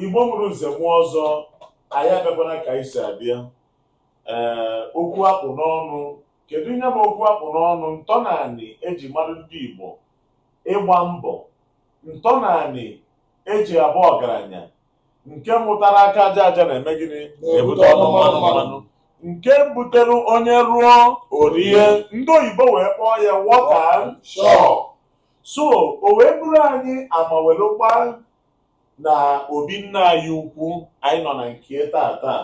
Igbo mụrụ nze mụọ ọzọ anyị abịakwana ka anyị si abịa ee okwu akpụ n'ọnụ kedu ihe bụ okwu akpụ n'ọnụ ntọnanị eji mara ndị Igbo ịgba mbọ ntọnanị eji abụ ọgaranya nke mụtara aka aja aja na-eme gịnị na-ebute ọnụ mmanụ mmanụ nke butere onye rụọ o rie ndị oyibo wee kpọọ ya wọta shọ so o wee bụrụ anyị amawelụkwa na obi nna anyị ukwu anyị nọ na nke ya taa taa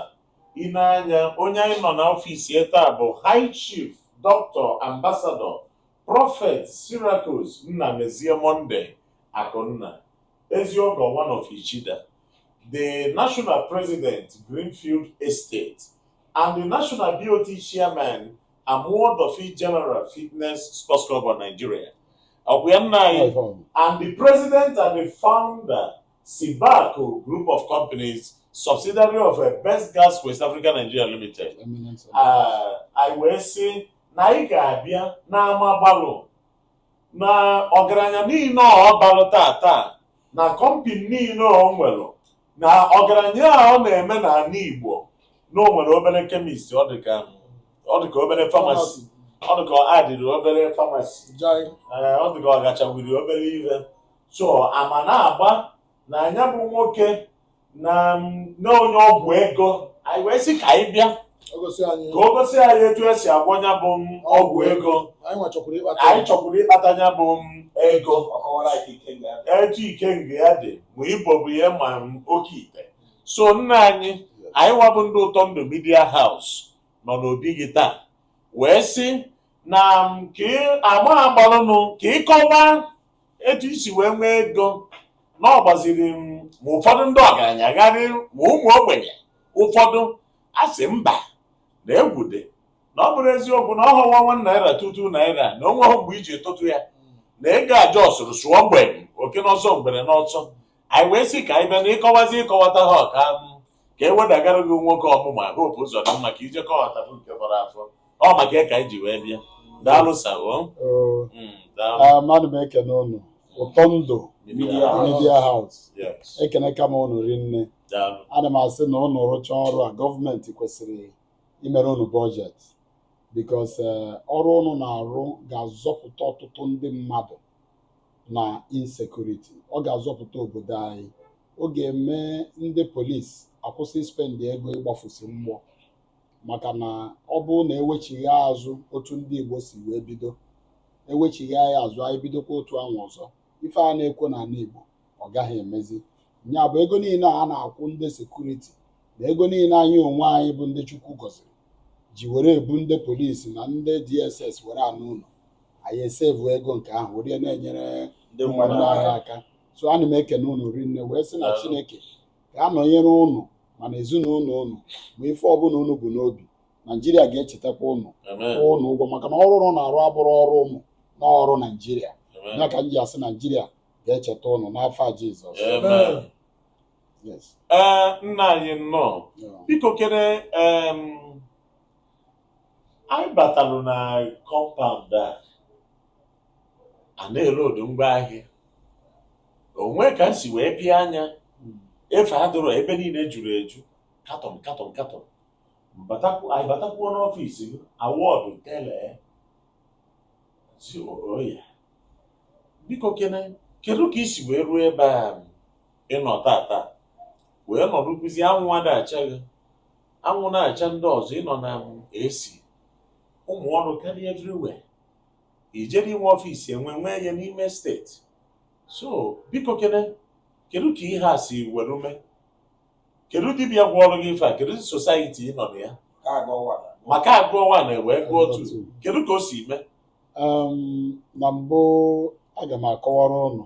ine anya onye anyị nọ n'ọfịs ya taa bụ high chief doctor ambassador prophet Cyracus Nnamezie Monday akụnna eziogo one of ichida the national president greenfield estate and the national BOT chairman Amuwo Odofin General Fitness Sports Club of Nigeria ọkwa ya nna anyị and the president and the founder Sibako Group of Companies subsidiary of eh, Best Gas West Africa Nigeria Limited Ah, anyị wee sị na anyị ga-abịa na ama gbalụ na ọgaranya niile a ọ balụ taa taa na kọmpịnị niile ọ nwere na ọgaranya a ọ na-eme n'ala Igbo na o nwere obere kemist ọ dịka ọ dịka obere famasi ọ dịka ọ adịrị obere famasi Jai. ee ọ dịka ọ gachawiri obere ihe so ama na-agba na nya bụ nwoke na na onye ọgwụ ego anyị wee sị ka anyị bịa ka o gosi anyị etu esi agwọ ya bụ ọgwụ ego anyị chọkwuru ịkpata ya bụ ego etu ikenga ya dị ma ibobo ya ma oke ite so nna anyị anyịwa bụ ndị ụtọ ndụ midia haus nọ n'obi gị taa wee sị na ka ama agbalụnụ ka ị kọwa etu i si wee nwee ego na ọ gbaziri ma ụfọdụ ndị ọgaranya gharị ma ụmụ ogbenye ụfọdụ a sị mba na egwu dị na ọ bụrụ eziokwu na ọ bụ one one naira two two naira na o nweghị mgbe i ji tụtụ ya na ego aja ọ sụrụ sụọ mgbe oke n'ọsọ ngwere n'ọsọ anyị wee sị ka anyị bịa na ịkọwazi ịkọwata ha ọka ka e wedagara gị nwoke ọmụma hope ụzọ dị mma ka i je kọwatapụ nke fọrọ afọ ọ maka ya ka anyị ji wee bịa daalụ sir o Oo, Mm, daalụ ah, mmadụ m ekene unu ụtọ ndụ midia haus Yes, ekenekwa m unu rinne daalụ ana m asị na unu rụchaa ọrụ a gọọmenti kwesịrị imere unu bọjetị because ọrụ unu na-arụ ga-azọpụta ọtụtụ ndị mmadụ na insekuriti ọ ga-azọpụta obodo anyị ọ ga-eme ndị polisi akwụsị spendị ego ịgbafusi mgbọ maka na ọ bụrụ na ewechigha azụ otu ndị Igbo si wee bido ewechigha anyị azụ anyị bidokwa otu ahụ ọzọ ife a na-ekwo n'ana Igbo ọ gaghị emezi nya bụ ego niile a na-akwụ ndị sekuriti na ego niile anyị onwe anyị bụ ndị Chukwu gọziri ji were ebu ndị polisi na ndị DSS were anọ n'ụlọ anyị esevu ego nke ahụ were na-enyere ndị mmadụ anyị aka so ana m ekene unu rinne wee sị na Daalụ. Chineke ga-anọnyere unu ma na ezinụlọ unu ma ife ọbụla unu bu n'obi Naijiria ga-echetakwa unu Amen. kwụọ unu ụgwọ maka na ọrụ unu na-arụ abụrọ ọrụ unu na ọrụ Naijiria Amen. ya ka m ji asị Naijiria ga-echeta unu n'afa Jizọs Amen. ee nna anyị nnọọ biko kene anyị batalụ na kọmpaụnd a a na-elodu ngwa ahịa o nwe ka m si wee pịa anya hmm. efe adịrọ ebe niile juru eju katọn katọn katọn anyị batakwuo n'ọfịs gị awọdụ tele si oya biko kene kedu ka i si wee ruo ebe a ị nọ tata wee nọdụkwuzi anwụ ada acha gị anwụ na-acha ndị ọzọ ị nọ na AC ụmụ ọrụ karịa everywhere i jere i nwe ọfịs enwe nwee ya n'ime steeti so biko kene kedu ka ihe a si were mee kedu dibịa gwọọrọ gị ife a kedu sosaiti ị nọ na ya maka agụọ nwa na wee gụọ otu kedu ka o si mee Um, na mbụ aga m akọwara unu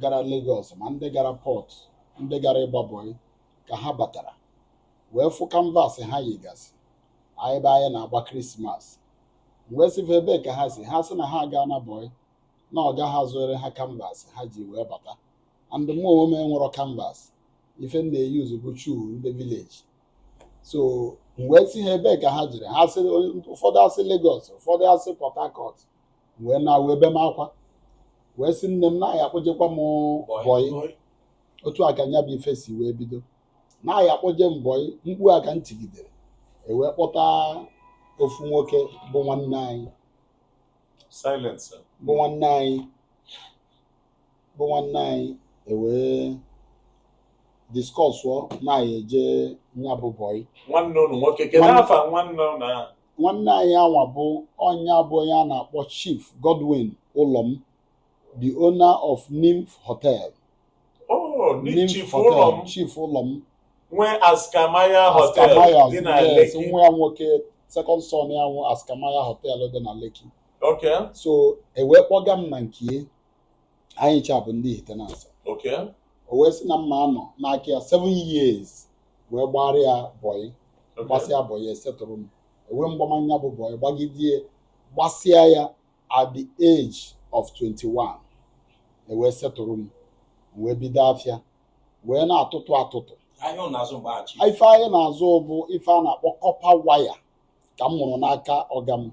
gara Lagos ma ndị gara pọt ndị gara ịgba bọị ka ha batara wee fụ kanvas ha yigasị ebe anyị na-agba krismas m wee sị fa ebe ka ha si ha sị na ha agaana bọị na ọga ha zụere ha kanvas ha ji wee bata and mụ onwe m enwerọ kanvas ife m na-eyuzu bụ shuu ndị vileji so m wee sị ha ebe ka ha jere ha sị ụfọdụ asị Lagos ụfọdụ asị Port Harcourt wee naa wee be m akwa wee sị nne m na a ya-akpọjekwa m bọyị otu a ka nya bụ ife si wee bido na a ya-akpọje m bọyị mkpu a ka m tigidere ewee kpọta ofu nwoke bụ nwanne anyị bụ nwanne anyị bụ nwanne anyị ewee diskọsụọ na a ya-eje nya bụ bọyị nwanne unu nwoke kedu Nwanne- afa nwanne unu ahụ nwanne anyị anwa bụ onye bụ onye a na-akpọ Chief Godwin Ụlọm the owner of Nymph Hotel Oh, ni Nymph Chief Hotel, Ụlọm Chief Ụlọm nwe Askamaya Hotel Askamaya dị na yes, Lekki. nwa ya nwoke second son ya nwe Askamaya Hotel dị na Lekki Okay. so e wee kpọga m na nke anyị ncha bụ ndị Ihitenansa Okay. o wee sị na m ma-anọ n'aka ya seven years wee gbara ya bọyị Okay. gbasịa bọyị esetụrụ m ewee m gbama nya bụ bọyị gbagidie gbasịa ya at the age of 21 ewee setụrụ m m wee bido afịa wee na-atụtụ atụtụ Ahịa ọ na-azụ mgbe achị. ife anyị na-azụ bụ ife a na-akpọ copper wire ka m mụrụ n'aka ọga m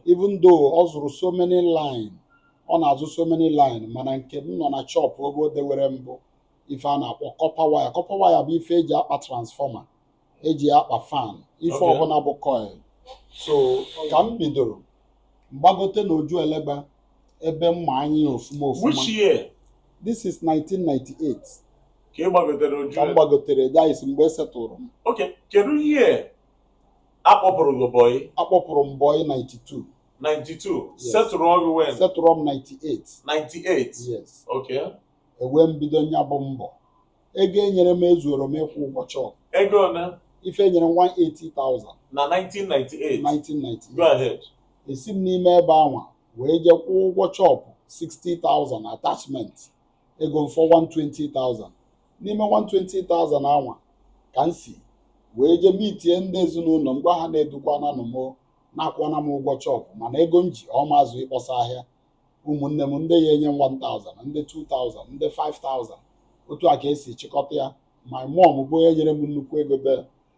even though ọ zụrụ so many line ọ na-azụ so many line mana nke m nọ na shop oge o dewere m bụ ife a na-akpọ copper wire copper wire bụ ife eji akpa transformer eji akpa fan ife Okay. ọbụla bụ coil so ka m bidoro m gbagote na Ojuelegba ebe m ma anya ọfụma ọfụma which year this is 1998 ka ị gbagotere Oju ka m gbagotere that is mgbe esetụrụ m okay kedu year akpọpụrụ gị bọyị akpọpụrụ m bọyị 92 92 yes. setụrụ gị when setụrụ m 98 98 yes okay ewee m bido nya bụ mbọ ego enyere m ezuoro m ịkwụ ụgwọ shop ego ole ife enyere m 180,000 na 1998 1998 go ahead esi m n'ime ebe anwa wee jee kwụọ ụgwọ shop 60,000 attachment ego m fọ 120,000 n'ime 120,000 anwa ka m si wee jee meetie ndị ezinụlọ m gwa ha na edukwananụ m na akwụọna m ụgwọ shop mana ego m ji ọ ma-ezu ịkpọsa ahịa ụmụnne m ndị ya enye m 1000 ndị 2000 ndị 5000 otu a ka esi chịkọta ya my mom bụ onye nyere m nnukwu ego bel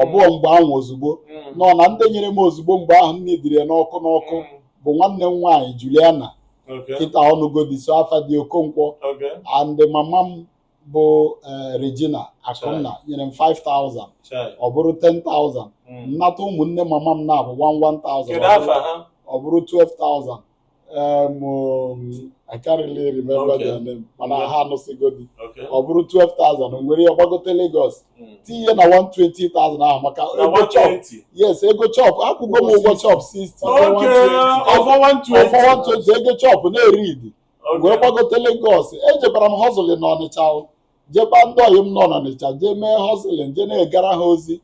ọ bụọ mgbe ahụ ozugbo nọ na ndị nyere m ozugbo mgbe ahụ immediately n'ọkụ n'ọkụ bụ nwanne m nwaanyị Juliana kịta ọ nụgo di so afa di Okonkwo and mama m bụ eh, Regina Akunna nyere m 5000 ọ bụrụ 10000 m nata ụmụnne mama m naabọ 1 1000 ọ bụrụ 12000 Um, um, I can't really remember okay. their name mana okay. ha anụsịgo di ọ bụrụ 12,000 m were ya gbagote Lagos hmm. tinye na 120,000 ahụ maka ego shop yes ego shop akwụgo m ụgwọ shop 60 ọ fọ 120 ego shop na-eread wee gbagote Lagos ejebara m hustling na Ọnịcha jeba ndị ọyị m nọ n'Ọnịcha jee mee hustling je na-egara ha ozi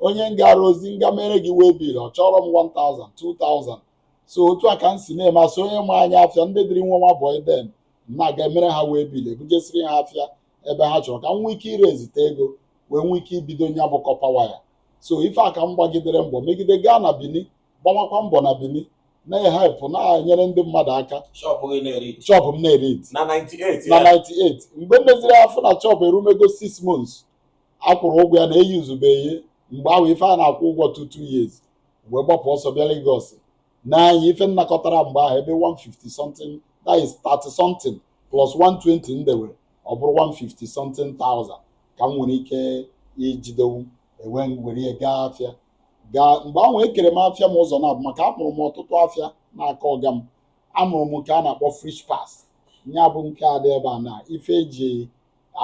onye m gaara ozi m ga meere gị waybill ọ chọọrọ m 1,000 2,000 so otu a ka m si na-eme as onye ma anya afịa ndị dịrị nwa nwa bọị then na-aga emere ha waybill ebujesiri ha afịa ebe ha chọrọ ka m nwee ike ịraisite ego wee nwee ike ibido nya bụ copper wire so ife a ka m gbagidere mbọ megide gaa na Bini gbamakwa mbọ na Bini na-ehelp na-enyere ndị mmadụ aka shop gị na-eread shop m na-eread na 98 na ya. 98 mgbe m meziri afọ na shop erumego 6 months akwụrụ ụgwọ ya na eyuzube ihe mgbe ahụ ife a na-akwụ ụgwọ two two years wee gbapụ ọsọ bịa Lagos nee anya ife m nakọtara mgbe ahụ ebe 150 something that is 30 something plus 120 m dewe ọ bụrụ 150 something thousand ka m nwere ike ijidenwu m wee were ya gaa afịa mgbe ahụ ekere m afịa m ụzọ naabọ maka amụrụ m ọtụtụ afịa n'aka ọga m amụrụ m nke a na-akpọ fridge parts ya bụ nke a dị ebe a na ife eji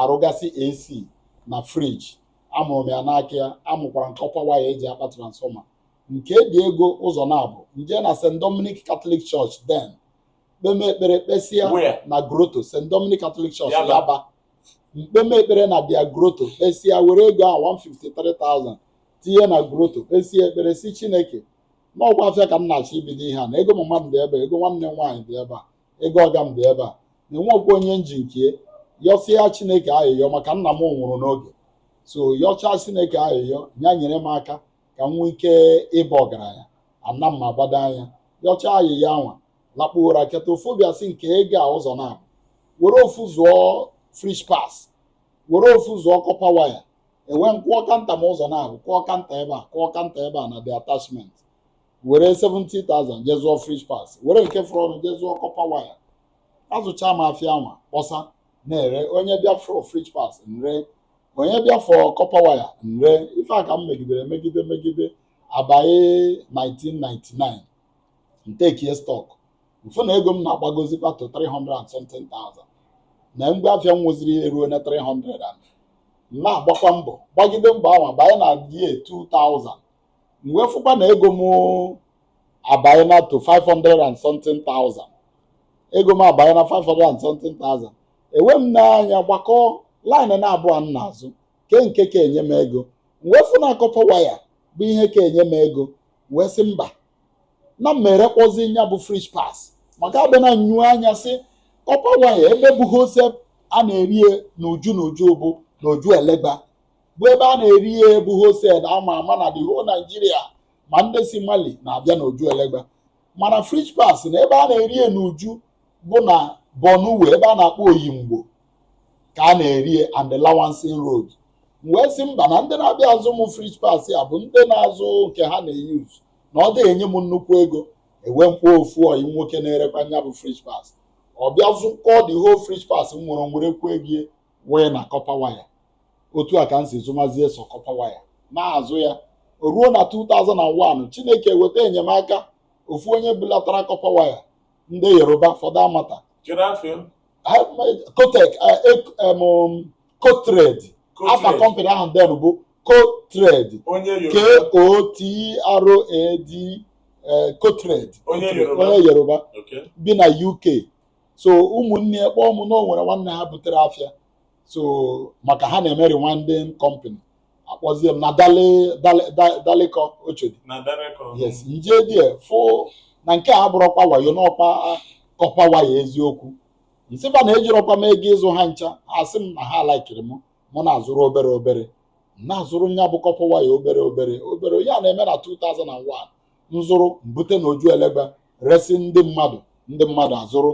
arụgasị AC na fridge amụrụ m ya n'aka ya amụkwara m copper wire eji akpa transformer m kebie ego ụzọ naabọ m je na St. Dominic Catholic Church then kpeme ekpere kpesịa na grotto St. Dominic Catholic Church Yaba m kpeme ekpere na their grotto kpesịa were ego a 153,000 tinye na grotto kpesịa ekpere sị Chineke na ọkwa afịa ka m na-achọ ibido ihe a na ego mama m dị ebe a, ego nwanne m nwaanyị dị ebe a ego ọga m dị ebe a na enwekwa onye m ji nke yọsịa chineke ayịyọ maka nna m nwụrụ n'oge so yọchaa chineke ayịyọ ya nyere m aka ka m nwee ike ịba ọgaranya ana m agbado anya yọchaa ayịyọ anwa lakpuo ụra teta ofu obi asị m kee ego a ụzọ naabọ were ofu zụọ fridge parts were ofu zụọ copper wire ewee m kụọ counter m ụzọ naabọ kụọ counter ebe a kụọ counter ebe a na the attachment were 70,000 je zụọ fridge parts were nke fọrọnụ je zụọ copper wire azụcha m afịa anwa kpọsa na-ere onye bịa for fridge parts m ree onye bịa for copper wire m ree ife a ka m megidere megide megide abanye 1999 m tekie stock m fụ na ego m na-agbagozikwa to 300 and something thousand na mgbe afịa m nweziri eruona 300 and m na-agbakwa mbọ gbagide mbọ ahụ banye na the year 2000 m wee fụkwa na ego m abanyena to 500 and something thousand ego m abanyena 500 and something thousand ewee m nee anya gbakọọ line naabọ m na-azụ kee nke ka enye m ego m wee fụ na copper wire bụ ihe ka enye m ego m wee sị mba na m ma erekwazi nya bụ fridge parts maka abịa na nyu anya sị copper wire ebe bụ wholesale a na-ere ya n'uju n'uju bụ n'Ojuelegba bụ ebe a na-ere ya bụ wholesale a ma ama na the whole Nigeria ma ndị si Mali na-abịa n'Ojuelegba mana fridge parts na ebe a na-ere ya n'uju bụ na Borno Way ebe a na-akpọ Oyingbo ka a na-ere ya and the Lawanson Road m wee sị mba na ndị na-abịa azụ m fridge parts ya bụ ndị na-azụ nke ha na-eyuz na ọ dịghị enye m nnukwu ego ewee m kpọọ ofu ọyị m nwoke na-erekwa nya bụ fridge parts ọ bịa zụkọọ the whole fridge parts m nwere m werekwuo ego wee na kọpa waya otu a ka m si zụmazie sọ kọpa waya na-azụ ya o ruo na 2001 Chineke weta enyemaka ofu onye bulatara kọpa waya ndị Yoruba fọdụ amata kotek kotred afa kọmpanị ahụ then bụ kotred k-o-t-r-a-d kotred onye Yoruba bi na UK so ụmụnne ya kpọọ m na o nwere nwanne ha butere afịa so maka ha na-eme rewinding company akpọzie m na dale dale da- dalekọ Oshodi na Dalekọ yes nje there fụ na nke a abụrọkwa wayo n'ọkwa kọpa waya eziokwu nsị ha na ejirọkwa m ego ịzụ ha ncha ha sị m na ha laikiri m mụ na-azụrụ obere obere m na-azụrụ nya bụ kọpa waya obere obere obere ya na-eme na 2001 nzụrụ mbute na Ojuelegba resi ndị mmadụ ndị mmadụ azụrụ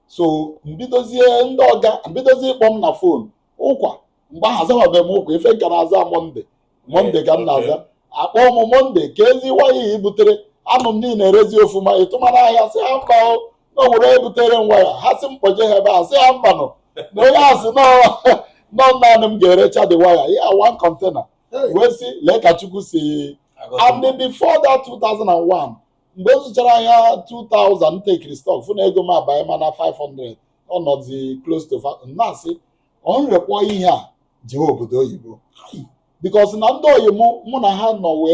so mbidozie ndị ọga m bidozie ịkpọ m na fon ụkwa mgbe ahụ azawabeghị m ụkwa ife m ka na-aza Monday Monday ka m na-aza akpọ m Monday keezi waya i butere anụ m na ị na-erezi ọfụma ị tụmara ahịa sị ha mba o, na o nwere ebutere m waya ha sị m kpọje ha ebe a sị ha mba no na onye a sị na ọ naanị m ga-erecha the waya a one kọntena wee sị lee ka chukwu si and before that 2001 mgbe m zụchara ahịa 2000 m tekiri stock fụ na ego m abanyema na 500 ọ nọzi close to fa- m na-asị ọ m rekpọ ihe a jewe obodo oyibo because na ndị oyi mụ mụ na ha nọ mgbe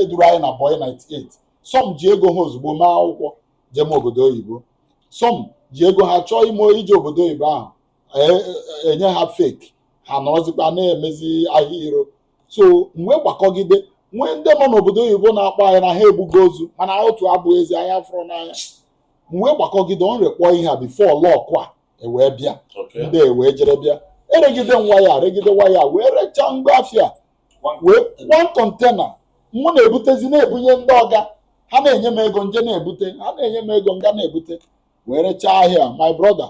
e duru anyị na boy 98 some ji ego ha ozugbo mee akwụkwọ jeme obodo oyibo some ji ego ha chọọ ime ije obodo oyibo ahụ enye ha fake ha nọrọzikwa na-emezi ahịa iro so m wee gbakọgide nwee ndị nọ n'obodo oyibo na-akpọ anyị na ha egbugo ozu mana otu abụ ezi anya fụrụ n'anya m wee gbakọgide ọ m rekpọ ihe a before luck a ewee bịa ndị ewee jere bịa eregide waya regide waya wee rechaa ngwa afịa wee one kọntena mụ na-ebutezi na-ebunye ndị ọga ha na-enye m ego nje na-ebute ha na-enye m ego nga na-ebute wee rechaa ahịa my brother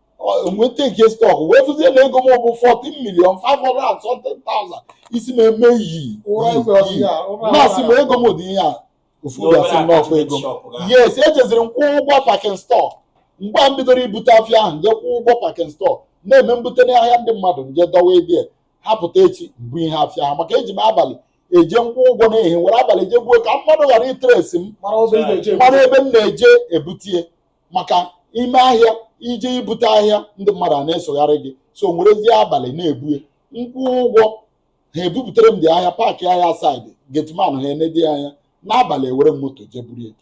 m wee tekie stọk wee fụzie na ego m bụ 14 million 500,000 isi m emee yii na-asị m ego m dị ihe a ofu obi asị m n'ọkwa ego m yes ejeziri m kwụọ ụgwọ pakin stọọ mgbe a m bidoro ibute afịa ahụ nje kwụọ ụgwọ pakin stọọ na-eme m bute ahịa ndị mmadụ nje dọwa ebe a ha pụta echi m bunye afịa ha maka eji m abalị eje nkwụ ụgwọ n'ehihie were abalị je buo ka mmadụ ghara itresi m mara ebe m na-eje ebute ya maka ime ahịa ije ibute ahịa ndị mmadụ a na-esogharị gị so m werezie abalị na-ebue m kwụọ ụgwọ ha ebupụtara m dị ahịa pack ahịa side gateman ha enedi anya n'abalị ewere m moto je buru ya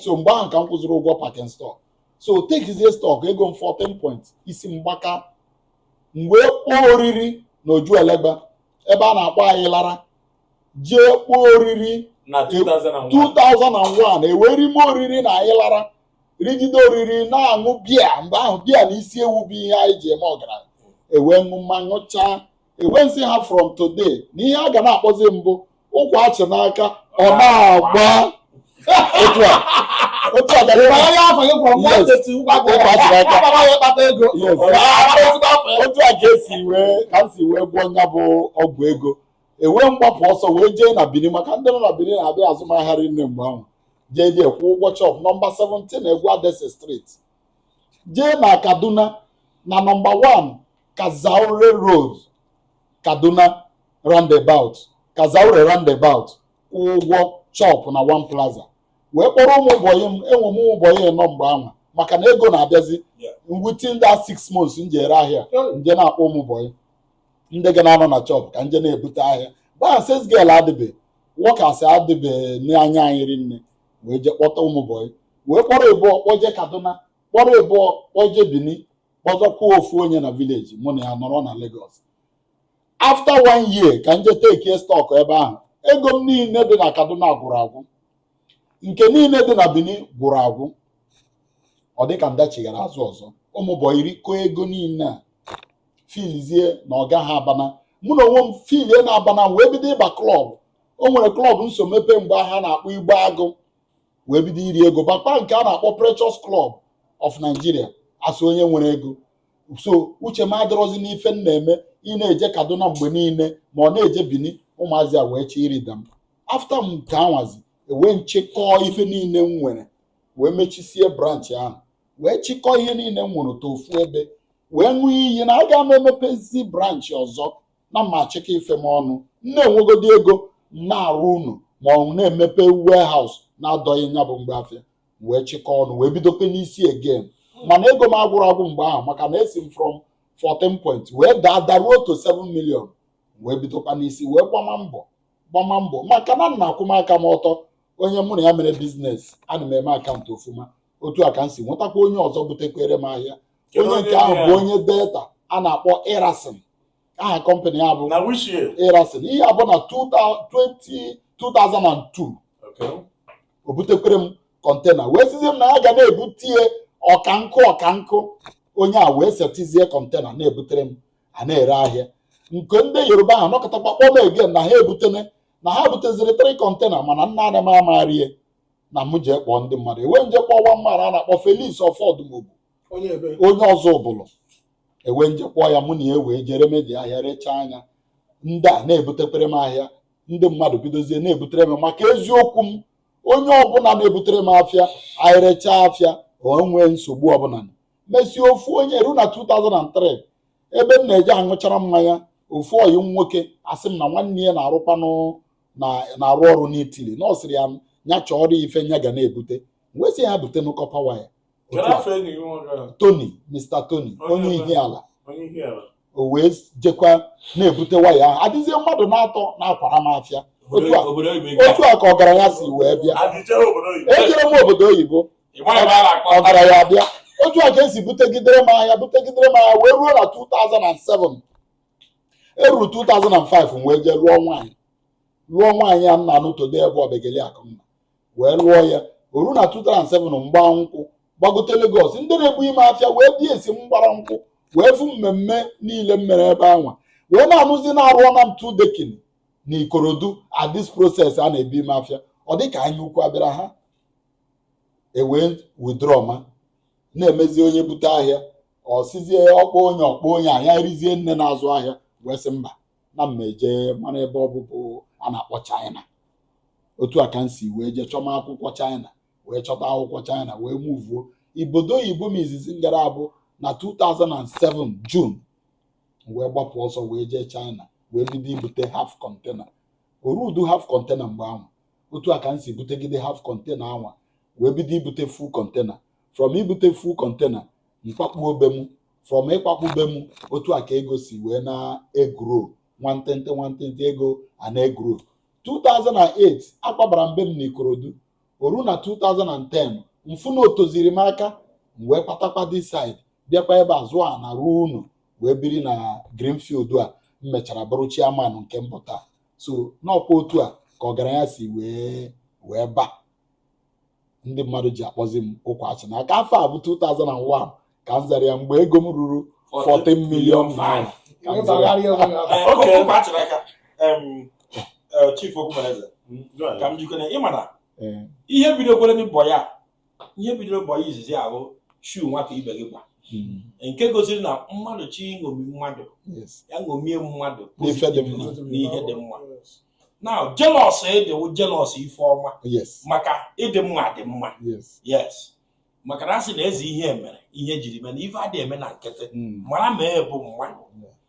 so mgbe ahụ ka m kwụziri ụgwọ packing store so takezie stock ego m 14 point isi mgbaka m wee kpọọ oriri na Ojuelegba ebe a na-akpọ Ayilara jee kpọọ oriri na 2001 2001 ewee rime oriri na anyị lara rigide oriri na-aṅụ bia mgbe ahụ bia na isi ewu bụ ihe anyị ji eme ọgaranya ewee ṅụ mma ṅụchaa ewee nsị ha from today na ihe a ga na-akpọzi mbụ ụkwa achị n'aka ọ na-agba otu a otu a gara Mgbe ya afọ gị kwụrụ mgbe Yes. eteti ụgwọ akwụkwọ Ụgwọ akwụkwọ aka. Ọ bara ya kpata ego. Yes. Ọ bara ya kpata ego. otu a ka esi wee ka m si wee gwọọ ya bụ ọgwụ ego ewee m gbapụ ọsọ wee jee na Benin maka ndị nọ na Benin na-abịa azụ m ahịa rinne mgbe ahụ jedị kwụọ ụgwọ shop nọmba 17 Eguadase Street jee na Kaduna na nọmba 1 Kazaure Road Kaduna roundabout Kazaure roundabout kwụọ ụgwọ shop na One Plaza wee kpọrọ ụmụ bọyị m enwe m ụmụ bọyị ịnọ mgbe ahụ maka na ego na-abịazi within that six months m jere ahịa m je na-akpọ ụmụ bọyị ndị ga na-anọ na shop ka m je na-ebute ahịa mgbe ahụ sales girl adịbe workers adịbe n'anya anyị rinne wee je kpọta ụmụ bọyị wee kpọrọ ịbụọ kpọje Kaduna kpọrọ ịbụọ kpọje Bini kpọzọkwuo ofu onye na village mụ na ya nọrọ na Lagos after one year ka m je takee stock ebe ahụ ego m niile dị na Kaduna gwụrụ agwụ nke niile dị na Benin gwụrụ agwụ ọ dịka m dachighara azụ ọzọ ụmụ bọyị rikọọ ego niile ha feelizie na ọga ha abana mụ na onwe m feelie na abana wee bido ịba club o nwere club m so mepee mgbe ahụ a na-akpọ Igbo Agụ wee bido iri ego bakwa nke a na-akpọ Precious Club of Nigeria as onye nwere ego so uche m adịrọzi n'ife m na-eme ị na-eje Kaduna mgbe niile ma ọ na-eje Bini ụmụazị a wee chịrịda m after m nke anwazi ewee m chịkọọ ife niile m nwere wee mechisie branch ahụ wee chịkọọ ihe niile m nwere to ofu ebe wee ṅụọ iyi na aga m emepezi branch ọzọ na m ma achịkọ ife m ọnụ m na-enwegodi ego m na-arụ ụnọ ma ọ na-emepe warehouse na-adọghị nya bụ mgbe afịa wee chịkọọ ọnụ wee bidokwa n'isi again mana ego m agwụrụ agwụ mgbe ahụ maka na esi m from 14 point wee daa daruo to 7 million wee bidokwa n'isi wee gbama mbọ gbama mbọ maka na m na-akwụma aka m ọtọ onye mụ na ya mere biznes ana m eme akaụntụ ofuma otu a ka m si nwetakwa onye ọzọ butekwere m ahịa Kedu onye nke ahụ nwe bụ ya? onye Delta a na-akpọ Erasin aha kọmpanị ya bụ na which year Erasin ihe a bụ na 2000 2002 okay o butekwere m kọntena wee sịzie m na ya ga na-ebutie ọkankụ ọkankụ onye a wee setizie kọntena na-ebutere m a na-ere ahịa nke ndị Yoruba ahụ nọkatakwa kpọọ m again na ha ebutene na ha buteziri three kọntena mana naanị m ama ree ya na m jee kpọọ ndị mmadụ e wee m jee kpọọ nwa mmadụ a na-akpọ Felix Ọfọdụmobu onye ebe onye Ọzụbụlụ e wee m jee kpọọ ya mụ na ya wee jee remezi ahịa rechaa nya ndị a na-ebutekwere m ahịa ndị mmadụ bidozie na-ebutere m maka eziokwu m onye ọbụla na-ebutere m afịa anyị rechaa afịa o nwee nsogbu ọbụla mesie ofu onye eruo na 2003 ebe m na-eje aṅụchara mmanya ofu ọyị m nwoke asị m na nwanne ya na-arụkwanụ na-arụ ọrụ n'Italy na ọ sịrị ya nya chọọrọ ife nya ga na-ebute wee sị ya butenụ copper wire Tony Mr Tony onye Ihiala o wee jekwa na-ebute wire ahụ adịzie mmadụ na-atọ na-akwara m afịa otu a ka ọgaranya si wee bịa ejere m obodo oyibo ọgaranya abịa otu a ka e si butegidere m ahịa butegidere m ahịa wee ruo na 2007 eruo 2005 wee jee lụọ nwaanyị lụọ nwaanyị a m na-anụ today ebe Obiageli Akụnna wee lụọ ya o ruo na 2007 m gbaa nkwụ gbagote Lagos ndị na-ebunye m afịa wee bịa esi m gbara nkwụ wee fụ mmemme niile m mere ebe anwa wee na-anụzi na arụọna m two decking na Ikorodu at this process a na-ebunye m afịa ọ dịka anya ukwu abịara ha e wee withdrawma na-emezi onye bute ahịa ọ sịzie ọ kpọọ onye ọ kpọọ onye a ya erizie nne na-azụ ahịa wee sị mba na m ma eje mara ebe ọ bụ bụ a na-akpọ China otu a ka m si wee jee chọma akwụkwọ China wee chọta akwụkwọ China wee muvuo obodo oyibo m izizi m gara bụ na 2007 June wee gbapụ ọsọ wee jee China wee bido ibute half container o rudu half container mgbe ahụ otu a ka m si butegide half container anwa wee bido ibute full container from ibute full container m kwakpuo be m from ịkwakpu be m otu a ka ego si wee na-egrow nwantịntị nwantịntị ego a na-egrow 2008 akwabara m be m n'Ikorodu o ruo na 2010 m fụ na o teziri m aka m wee gbatakwa this side bịakwa ebe a zụọ ana rụọ ụnọ wee biri na Greenfield a m mechara bụrụ chairman nke mbụ taa so n'ọkwa otu a ka ọgaranya si wee ba ndị mmadụ ji akpọzi m ụkwa achị na aka afọ a bụ 2001 ka m zara ya mgbe ego m ruru 14 million naira ka m zara ya. oke okwu a chịrị aka em, eh, chief okwumereze ka m jikere ịma na Ee, ihe bidokwere na bọyị a ihe bidoro bọyị izizi ahụ shu nwata ibe gị gba hmm. nke gosiri na mmadụ chọọ iṅomi mmadụ ya ṅomie mmadụ n'ihe dị mma na jealous ị dịwa jealous ife ọma maka ịdị mma dị mma yes maka na a sị na eze ihe mere ihe jiri mee na ife adịghị eme na nkịtị hmm. mara ma ị bụ mma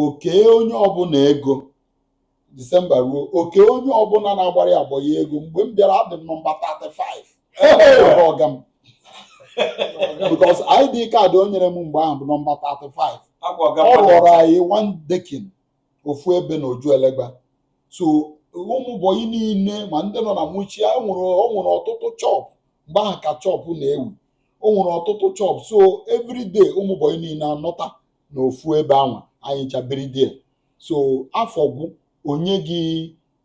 o kee onye ọbụla ego disemba ruo o kee onye ọbụla na-agbara ya bọyị ego mgbe m bịara adị m nọmba 35 ọga m because ID kaadị o nyere m mgbe ahụ bụ nọmba 35 ọ rụọrọ anyị one decking ofu ebe na ojuelegba so ụmụ bọyị niile ma ndị nọ na mushin o nwere ọtụtụ chọp mgbe ahụ ka chọp na-ewu o nwere ọtụtụ chọp so everyday ụmụ bọyị niile anọta n'ofu ebe ahụ anyị ncha biri there so afọ gwụ o nye gị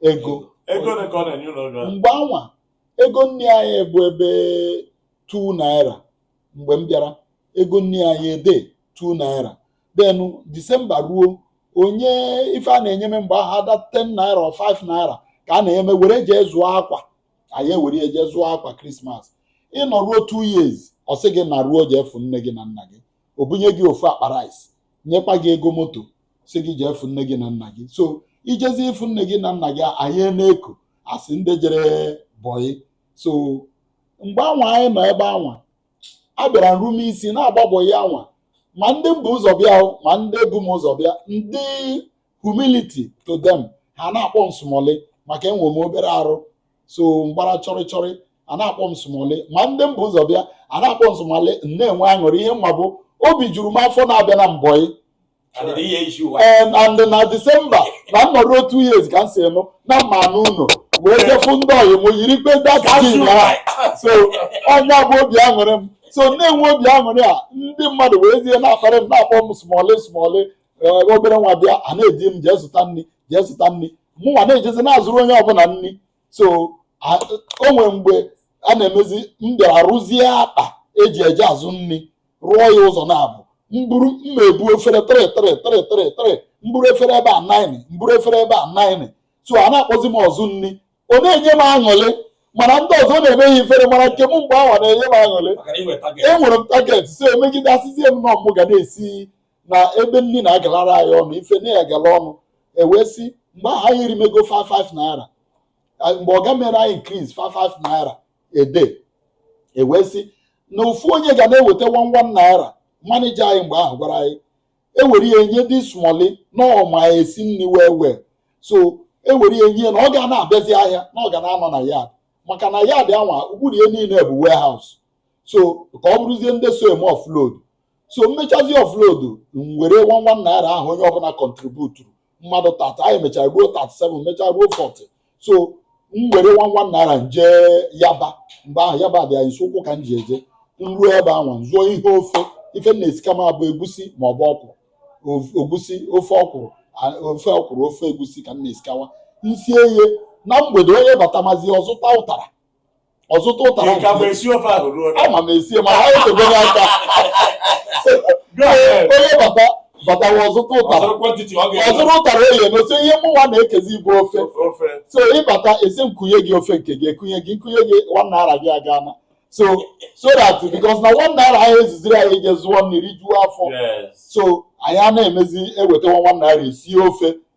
ego ego ole ka ọ na-enye ụnụ oge ahụ? mgbe anwa ego nni anyị bụ ebe 2 naira mgbe m bịara ego nni anyị adị 2 naira then disemba ruo o nye ife a na-enye m mgbe ahụ ada 10 naira or 5 naira ka a na-enye m were jee zụọ akwa anyị ewere ya jee zụọ akwa krismas ị nọruo 2 years ọ sị gị naruo jee fụ nne gị na nna gị o bunye gị ofu akpa rice nyekwa gị ego moto sị gị jee fụ nne gị na nna gị so i jezie ịfụ nne gị na nna gị anyị na-eko a sị ndị jere bọyị so mgbe anwa anyị nọ ebe anwa abịara m rube isi na-agba bọyị anwa ma ndị m bu ụzọ bịa ma ndị bu m ụzọ bịa ndị humility to them ha na-akpọ m smọlị maka enwe m obere arụ so m gbara chọrịchọrị a na-akpọ m smọlị ma ndị m bu ụzọ bịa a na-akpọ m smọlị na-enwe aṅụrị ihe m ma bụ obi juru m afọ na abịana m bọyị and na disemba na m nọruo 2 years ka m si nụ na mma n'ụlọ wee jee fụ ndị ọyị m yiri kpe dat so ọ nya bụ obi aṅụrị m so na-enwe obi aṅụrị a ndị mmadụ weezie na-akparị m na-akpọ m smọlị smọlị obere nwa bịa a na-ezi m jee zụta nri jee zụta nri mụnwa na-ejezi na-azụrụ onye ọbụla nri so o nwere mgbe a na-emezi m bịara rụzie akpa e ji eje azụ nri rụọ ya ụzọ naabọ m buru m na-ebu efere 3 3 3 3 3 m buru efere ebe a 9 m buru efere ebe a 9 so a na-akpọzi m ọzụ nri ọ na-enye m aṅụlị mana ndị ọzọ na-eme ha ifere mana nke m mgbe ahụ na-enye m aṅụlị enwere m target so e megide a sịzie m na ọ mụ ga na-esi na ebe nri na-agalara anyị ọnụ ife na-agala ọnụ ewee sị mgbe ahụ anyị erimego 5 5 naira mgbe ọga mere anyị increase 5 5 naira a day ewee sị na ofu onye ga na-eweta 1 1 naira manija anyị mgbe ahụ gwara anyị ewere ya enye dị smoli na ọ ma esi nri wee wee so ewere ya enye na ọ ga na-abịazi ahịa na ọ ga na-anọ na yard maka na yard anwa okpuru ya niile bụ warehouse so ka ọ bụrụzie ndị so eme offload so m mechazie offload m were one one naira ahụ onye ọbụla contributuru mmadụ 30 anyị mechara ruo 37 mechaa ruo 40 so m were one one naira m jee Yaba mgbe ahụ Yaba dị anyị nso ụkwụ ka m ji eje m ruo ebe ahụ zụọ ihe ofe ife m na-esikawa bụ egusi ma ọ bụ ọkwụrụ Of- egusi ofe ọkwụrụ a- ofe ọkwụrụ ofe egusi ka m na-esikawa m sie ya na mgbede onye batamazi ọ zụta ụtara ọ zụta ụtara Ị ka ma esi ofe ahụ ruo na ama m esie ma ha echebe m aka onye bata batawa ọ zụta ụtara ọ zụrụ quantity ọ ga-eme ọ zụrụ ụtara ọ ya-eme so ihe mụnwa na-ekezi bụ ofe ofe so ị bata ị sị m kunye gị ofe nke gị ekunye gị m kunye gị one naira gị agana so so that because na one naira ahụ ezuziri anyị ije zụọ nri rijuo afọ yes so anyị a na-emezi ewetawa one naira esie ofe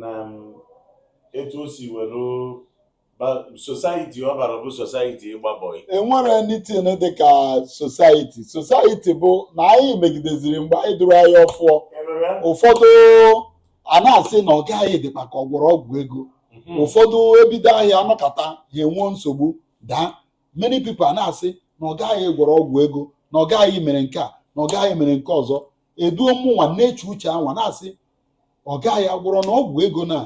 na um, etu o si were society ọ bara bụ society ịgba bọị enwere anything dị ka society society bụ na anyị megideziri mgbe anyị duru anyị ọfụọ ụfọdụ a na-asị na ọga gị dịkwa ka ọ gwọrọ ọgwụ ego mhm. ụfọdụ ebido ahịa anọkata ha enwee nsogbu daa many people a na-asị na ọga gị gwọrọ ọgwụ ego na ọga gị mere nke a na ọga gị mere nke ọzọ eduo mụnwa na-eche uche anwa na-asị ọga gị gwọrọ na ọgwụ ego na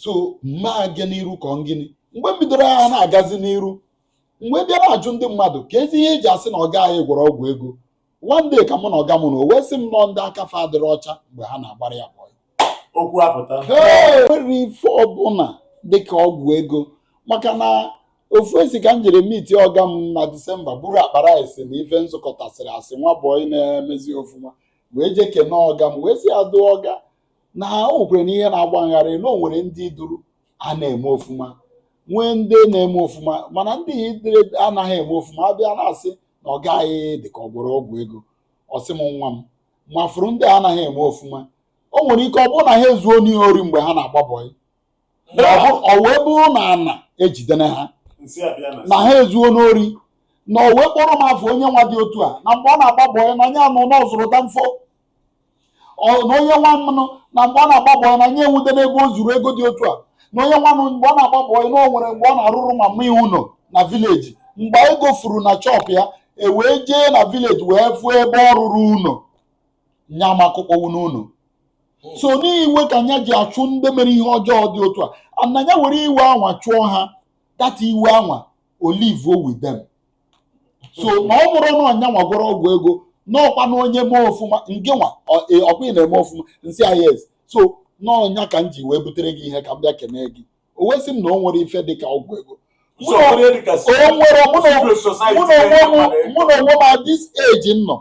so m ma aga n'iru ka ọ gịnị mgbe m bidoro ahịa na-agazi n'iru m wee bịa na-ajụ ndị mmadụ keezi ihe eji asị na ọga gị gwọrọ ọgwụ ego one day ka mụ na ọga m nọ o wee sị m na ọ ndị aka fa adịrọ ọcha mgbe ha na-agbara ya bọyị okwu apụta enwerọ ife ọbụla dịka ọgwụ ego maka na ofu esi ka m jere meet ọga m na Disemba buru akpa rice na ife m zụkọtasịrị as nwa bọyị na-emezi ofuma wee jee kene ọga m wee sị ya dụọ ọga na o nwekwere ihe na-agba m gharị na o nwere ndị i duru a na-eme ofuma nwee ndị na-eme ofuma mana ndị i duru anaghị eme ofuma abịa na-asị na ọga gị dị ka ọ gwọrọ ọgwụ ego ọ sị m nwa m ma ị fụrụ ndị anaghị eme ofuma o nwere ike ọ bụrụ na ha ezuona ori mgbe ha na-agba bọị Mgbe ọ bụ- ọ wee bụrụ na ana ejidere ha Nsị abịa na na ha ezuona ori na o wee kpọrọ m afa onye nwa dị otu a na mgbe ọ na-agba bọyị na ya anụ na ọ zụrụ danfo Ọ- na onye nwanụ na mgbe ọ na-agba bọyị na ya enwute n'ebe o zuru ego dị otu a na onye nwanụ mgbe ọ na-agba bọyị na o nwere mgbe ọ na-arụrụ mama ya ụnọ na village mgbe ego furu na shop ya e wee jee na village wee fụ ebe ọ rụrụ ụnọ nya makụkpọwu n'ụlọ hmm. so n'iwe ka nya ji achụ ndị mere ihe ọjọọ dị otu a ana ya were iwe anwa chụọ ha that iwe anwa o live with them so na ọ bụrụ na nya nwa gwọrọ ọgwụ ego n'ọkwa na onye mee ọfụma ngị nwa e, ọkwa ị na-eme ọfụma m sị ya yes so na ọ nya ka m ji wee butere gị ihe ka m bịa kene gị o wee sị m na o nwere ife dịka ọgwụ ego mụ na onwe m at this age m nọ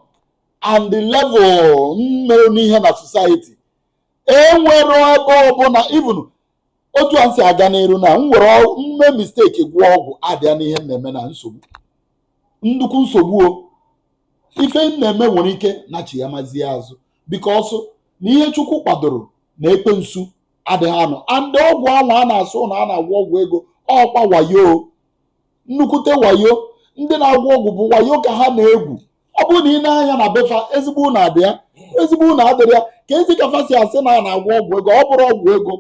and the level mere n'ihe na society enwere ebe ọbụla even otu a m si aga n'iru na m were ọ- mee mistake gwọọ ọgwụ adịa n'ihe m na-eme na nsogbu nnukwu nsogbu o ife m na-eme nwere ike na chi ya mazie azụ because na ihe chukwu kwadoro na ekwensu adịghị anọ and ọgwụ anwa a na-asị na a na-agwọ ọgwụ ego ọkwa wayo nnukwute wayo ndị na-agwọ ọgwụ bụ wayo ka ha na-egwu ọ bụrụ na ị nee anya na be fa ezigbo ụlọ adị ya ezigbo ụlọ adịrọ ya keezi ka fa si asị na a na-agwọ ọgwụ ego ọ bụrọ ọgwụ ego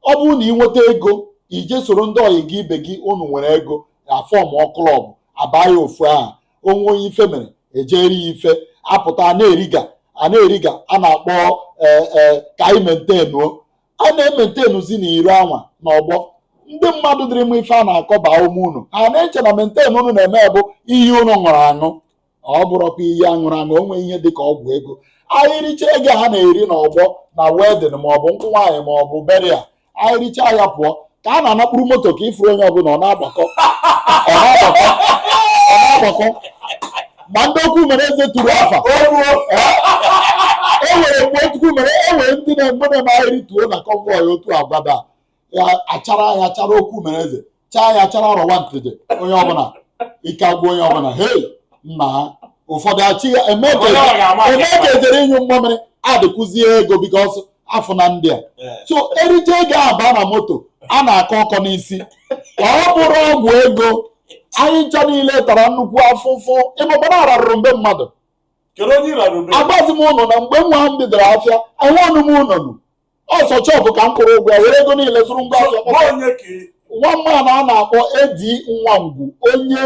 ọ bụrụ na ị nweta ego ị je soro ndị ọyị gị ibe gị unu nwere ego a form club abaa ya ofu aha o nwee onye ife mere e jeere ya ife apụta a na-eriga a na-eriga a na-akpọ ee ee ka anyị mentenuo a na-ementenuzi na iro anwa na ọgbọ ndị mmadụ dịrị mma ife a na-akọ baa ume unu ha na-eche na maintain unu na-eme bụ iyi unu ṅụrụ aṅụ ọ bụrọkwa iyi a ṅụrụ aṅụ o nweghị ihe dị ka ọgwụ ego anyị richa ego ha na-eri na ọgbọ na wedding maọbụ nkwụ nwaanyị maọbụ burial anyị richa ya pụọ ka a na-ana kpụrụ moto ka ifuru onye ọbụla ọ na-agbakọ ọ na-agbakọ ọ na-agbakọ ma ndị okwu mere eze tụrụ afa e nwere mgbe okwu mere e nwere ndị na-egbe na emagheri tuo na convoy otu agbada ya achara ya chara okwu mere eze chaa ya chara rọwa ntịdị onye ọbụla ike agwụ onye ọbụla hei nna ha ụfọdụ achị ya eme ka e jere ịnyụ mmamịrị adịkwuzie ego because a fụ na ndị a so erije ego abaa na moto a na-akọ ọkọ n'isi ọ bụrọ ọgwụ ego anyị ncha niile tara nnukwu afụfụ ịmụbara ararụrụ mgbe mmadụ kedu onye ịrara ube agwazi m unu na mgbe nwa m bidoro afịa enwe ọnụ m ụnọnụ ọ sọ shop ka m kwụrụ ụgwọ ya were ego niile zụrụ ngwa afịa bụ onye ka ị- nwa mmanụ a na-akpọ Edi Nwangwu onye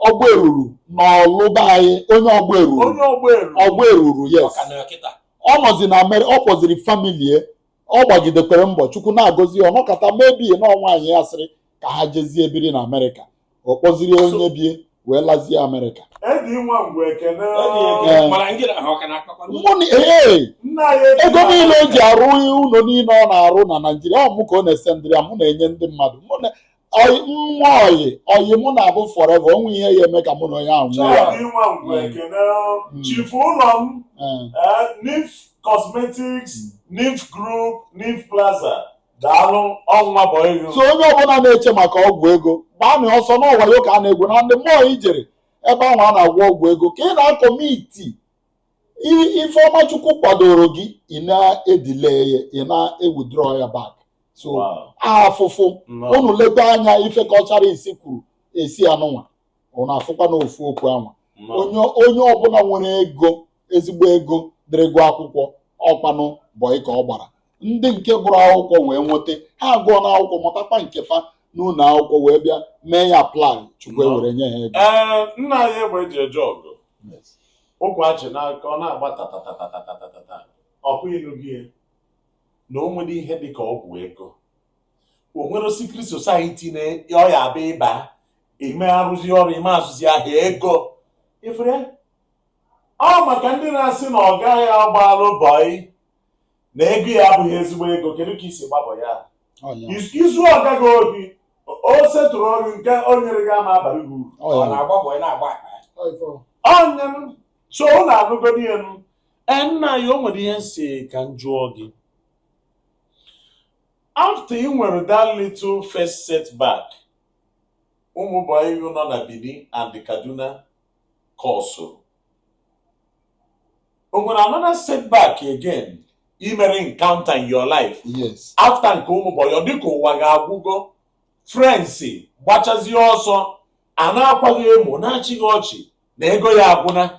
ọgbọ eruru n'ọlụba anyị onye ọgbọ eruru onye ọgbọ elu ọgbọ eruru yes Ọka na kịta. ọ nọzi na amerịka ọ kpọziri family ya ọ gbagidekwere mbọ chukwu na-agọzi ya ọ nọkata mebie na nwaanyị ya sịrị ka ha jezie biri na amerịka ọ kpọziri onye be ya wee lazie amerịka Edi nwa mgbe ekene Ee. Mana ndị na ha ọ ka na-akpakwa mụ na ee nna ya edi ego niile o ji arụ ụlọ niile ọ na-arụ na naijiria ọ mụ ka ọ na-esendịrị ya mụ na-enye ndị mmadụ mụ na ọyị nwa ọyị ọyị mụ na-abụ forever o nwe ihe ya eme ka mụ na onye ahụ nwụọ ya Chọọdụ ịnwa ngwa Mm. ekene Mm. chifu ụlọ m Ee. eh, Nif Cosmetics Nif Group Nif Plaza daalụ ọnwa bụ ego so onye ọbụla na-eche maka ọgwụ ego gbaanụ ọsọ n'ọwayo ka a na-egwu na ndị mmụọ i jere ebe ahụ a na-agwọ ọgwụ ego ka ị na-acommit ife ọma chukwu kwadoro gị ị na-edelay ya ị na-ewithdraw ya back so afụfụ unu leta anya ife ka ọchara isi kwuru esi anụnwa unu afụkwa na ofu okwu anwa onye ọbụla nwere ego ezigbo ego dịrị gụọ akwụkwọ ọ kwanụ bọị ka ọ gbara ndị nke gụrụ akwụkwọ wee nweta ha agụọ n'akwụkwọ mụtakwa nke fa n'ụlọ akwụkwọ wee bịa mee ya apply chukwu ewere nye ha ego ee nna anyị egbe eji eje ọgụ ụkwa achị n'aka ọ na-agba tatatatatatatatata ọkụ ilu gị na o nwere ihe dị ka ọgwụ ego o nwere secret society na ọ ya-abịa ị ba ị ma arụzi ọrụ ị ma azụzi ahịa ego ifere ọ maka ndị na-asị na ọ gaghị agbalụ bọị na ego ya abụghị ezigbo ego kedu ka i si gba bọị izu ọga gị ohi o setụrụ ọrụ nke o nyere gị ama abalụ gị uru ọ na-agba bọị na-agba akpa ọnya m so unu anụgodi ya m nna anyị o nwere ihe m sị ka m jụọ gị after ị nwere that little first setback ụmụ bọyị nọ na Benin and Kaduna causeụrụ o nwere another setback again i mere encounter in your life yes after nke ụmụ bọyị ọ dịka ụwa gị agwụgo friends gbachazie ọsọ a na-akwa gị emo na-achị gị ọchị na ego ya agwụna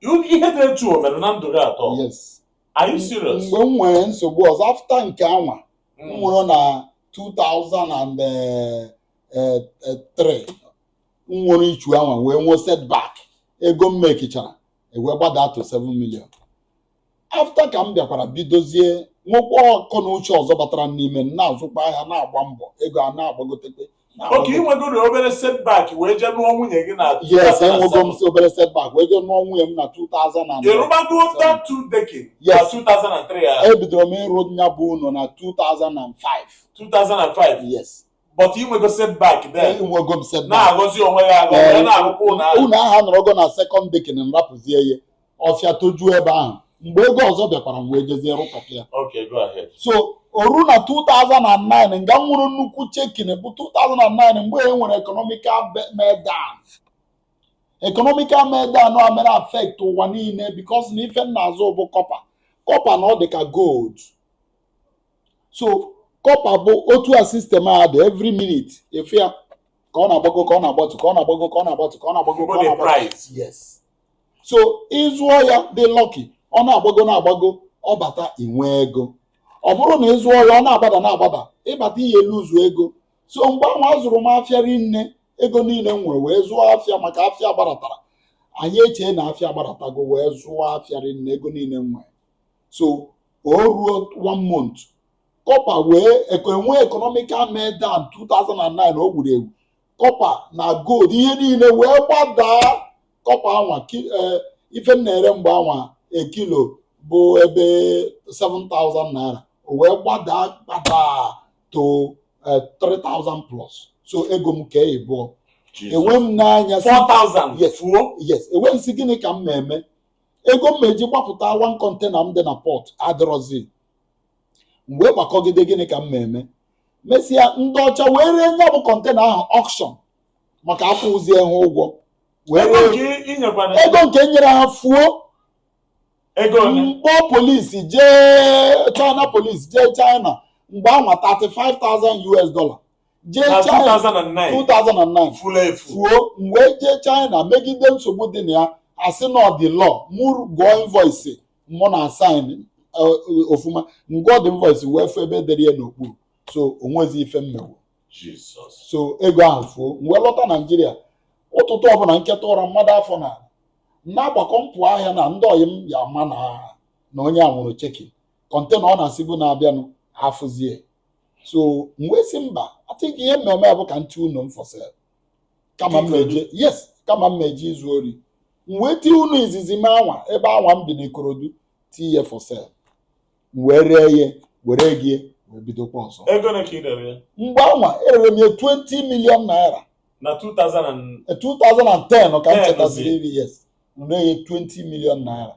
You- ihe dị etu o mere na ndụ gị atọ yes are you serious mgbe m nwere nsogbu ọzọ after nke anwa m Mm. nwere na 2003 m nwere issue anwa wee nwee setback ego m makechara e wee gbadaa to 7 million after ka m bịakwara bidozie nwekwa akọ na uche ọzọ batara n'ime m na-azụkwa ahịa na-agba mbọ ego a na-agbagotekwa okay ị nwegoro obere setback wee jee nụọ nwunye gị na yes enwego m si obere setback wee jee nụọ nwunye m na 2000 ị rụbago that two decking na Yes. 2003 a ebidoro m ịrụ nya bụ ụlọ na 2005 2005 yes but i nwego setback then enwego m setback na-agọzi onwe ya agọ wee na-arụkwa ụlọ ahụ ụnọ ahụ anọrọgo na second decking m rapụzie ya ọfịa tojuo ebe ahụ mgbe ego ọzọ bịakwara m wee jezie rụkọta ya okay go ahead so o ruo na 2009 nga m nwere nnukwu shaking bụ 2009 mgbe e nwere economical be- meltdown economical meltdown a mere affect ụwa niile because na ife m na-azụ bụ copper copper na ọ dị ka gold so copper bụ otu a system a dị every minute ife a ka ọ na-agbago ka ọ na-agbatu ka ọ na-agbago ka ọ na-agbatu ka ọ na-agbago ka ọ Money na-agbatu price. yes so ị zụọ ya dị lucky ọ na-agbago na-agbago ọ bata i nwee ego ọ bụrụ na ị zụọ ya ọ na-agbada na-agbada ị bata i luzuo ego so mgbe ahụ azụrụ m afịa rinne ego niile m nwere wee zụọ afịa maka afịa gbadatara anyị echee na afịa gbaratago wee zụọ afịa rinne ego niile m nwere so o ruo one month copper wee nwee economical meltdown 2009 o gburu egwu copper na gold ihe niile wee gbadaa copper anwa eh, ife m na-ere mgbe anwa a kilo bụ ebe 7000 naira o wee gbadaa gbadaa to 3000 eh, plus so ego m kee ịbụọ enwe m n'anya yes m wee sị gịnị ka m ma-eme ego m ma-eji gbapụta one container m dị na port adịrọzi m wee gbakọgide gịnị ka m ma-eme mesịa ndị ọcha wee ree nya bụ container ahụ auction maka akwụzie ha ụgwọ wee ego ree nke i nyekwara ego nke m nyere ha fuo ego ole m kpọ police jee China police jee China mgbe anwa 35,000 US dollar jee na China 2009 2009 furu efu fuo m wee jee China megide nsogbu dị na ya a sị na ọ dị law mụ gụọ invoice mụ na ha sign ọfụma m gụọ the invoice wee fụ ebe e dere ya n'okpuru so o nwezi ife m mewu Jesus so ego ahụ fuo m wee lọta Naịjirịa ụtụtụ ọbụla m teta ụra mmadụ afọ na na-agbakọ m pụọ ahịa na ndị ọyị m ya ama na na onye a nwụrụ chekin container ọ na-asịbu na-abịanụ afụzie so m wee sị mba I think ihe m ma-eme bụ ka m tie ụnọ m for sale kama m na-eje yes kama m ma-eje izu ori m wee tie ụnọ izizi m anwa ebe anwa m bi n'Ikorodu tie ya for sale m wee ree ya were ego wee bidokwa ọzọ ego ole ka ị rere ya mgbe anwa erere m ya 20 million naira na 2000 and- Eh, 2010 ka m Ten, chetaziri iri yes m ree ya 20 million naira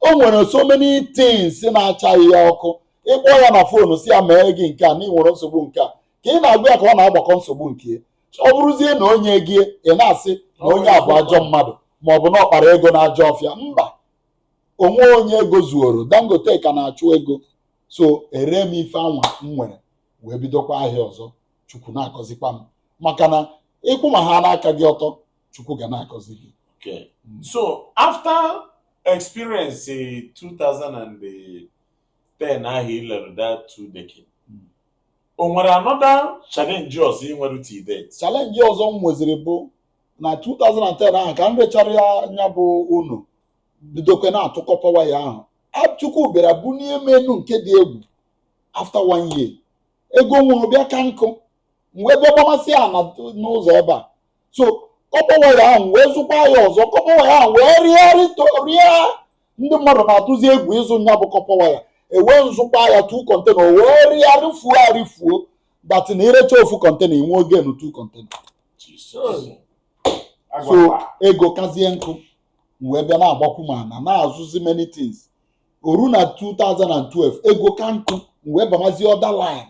o nwere so many things na-acha ya ọkụ ị kpọọ ya na phone sị ya mee gị nke a na ị nwere nsogbu nke a ka ị na-agwa ya ka ọ na-agbakọ nsogbu nke ya ọ bụrụzie na o nyeghị ị na-asị na onye a bụ ajọ mmadụ ma ọ bụ na ọ kpara ego na ajọ ọfịa mba o nweghị onye ego zuoro Dangote ka na-achụ ego so eree m ife anwa m nwere wee bidokwa ahịa ọzọ Chukwu na-agọzikwa m maka na ị kwụba aka gị ọtọ chukwu ga na-agọzi gị okay. Mm. so after experience 2010 ahụ i lere that two decade mm. o nwere another challenge ọzọ ị nwere to date challenge ọzọ m nweziri bụ na 2010 ahụ ka m rechara nya bụ ụnọ bidokwe na-atụ kọpa waya ahụ Chukwu bịara bunie m enu nke dị egwu after one year ego m nwere bịa ka nku m wee bịa gbamasịa ana n'ụzọ ebe a so kọpa waya ahụ wee zụkwa ya ọzọ kọpa waya ahụ wee rịgharị rịa ndị mmadụ na-atụzi egwu ịzụ nya bụ kọpa waya e wee m zụkwa ya tu kọntena o wee rịa rịfuo arịfuo that na i recha ofu kọntena i nwee gain tu kọntena so ego kazie nku m wee bịa na-agbakwuma ana na-azụzi many things o ru na 2012 ego ka nku m wee bamazie other line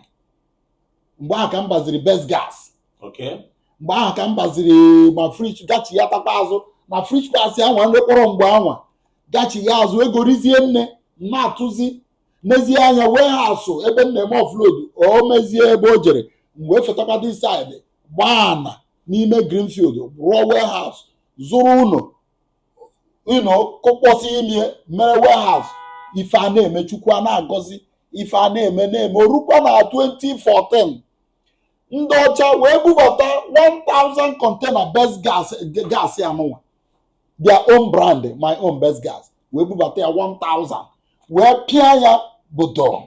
mgbe ahụ ka m baziri best gas Okay. mgbe ahụ ka m baziri ma fridge gachighatakwa azụ na fridge gas anwa m rekpọrọ mgbe anwa gachigha azụ ego rizie nne m na-atụzi mezie anya warehouse ebe m na-eme offload o mezie ebe o jere m wee fetakwa this side gbaa ana n'ime Greenfield rụọ warehouse zụrụ ụnọ you know kụkpọsị ime ya mere warehouse ife a na-eme chukwu a na-agọzi ife a na-eme na-eme o rukwa na 2014 ndị ọcha wee bubata 1000 container best gas anụnwa their own brand my own best gas wee bubata ya 1000 wee pịa ya obodo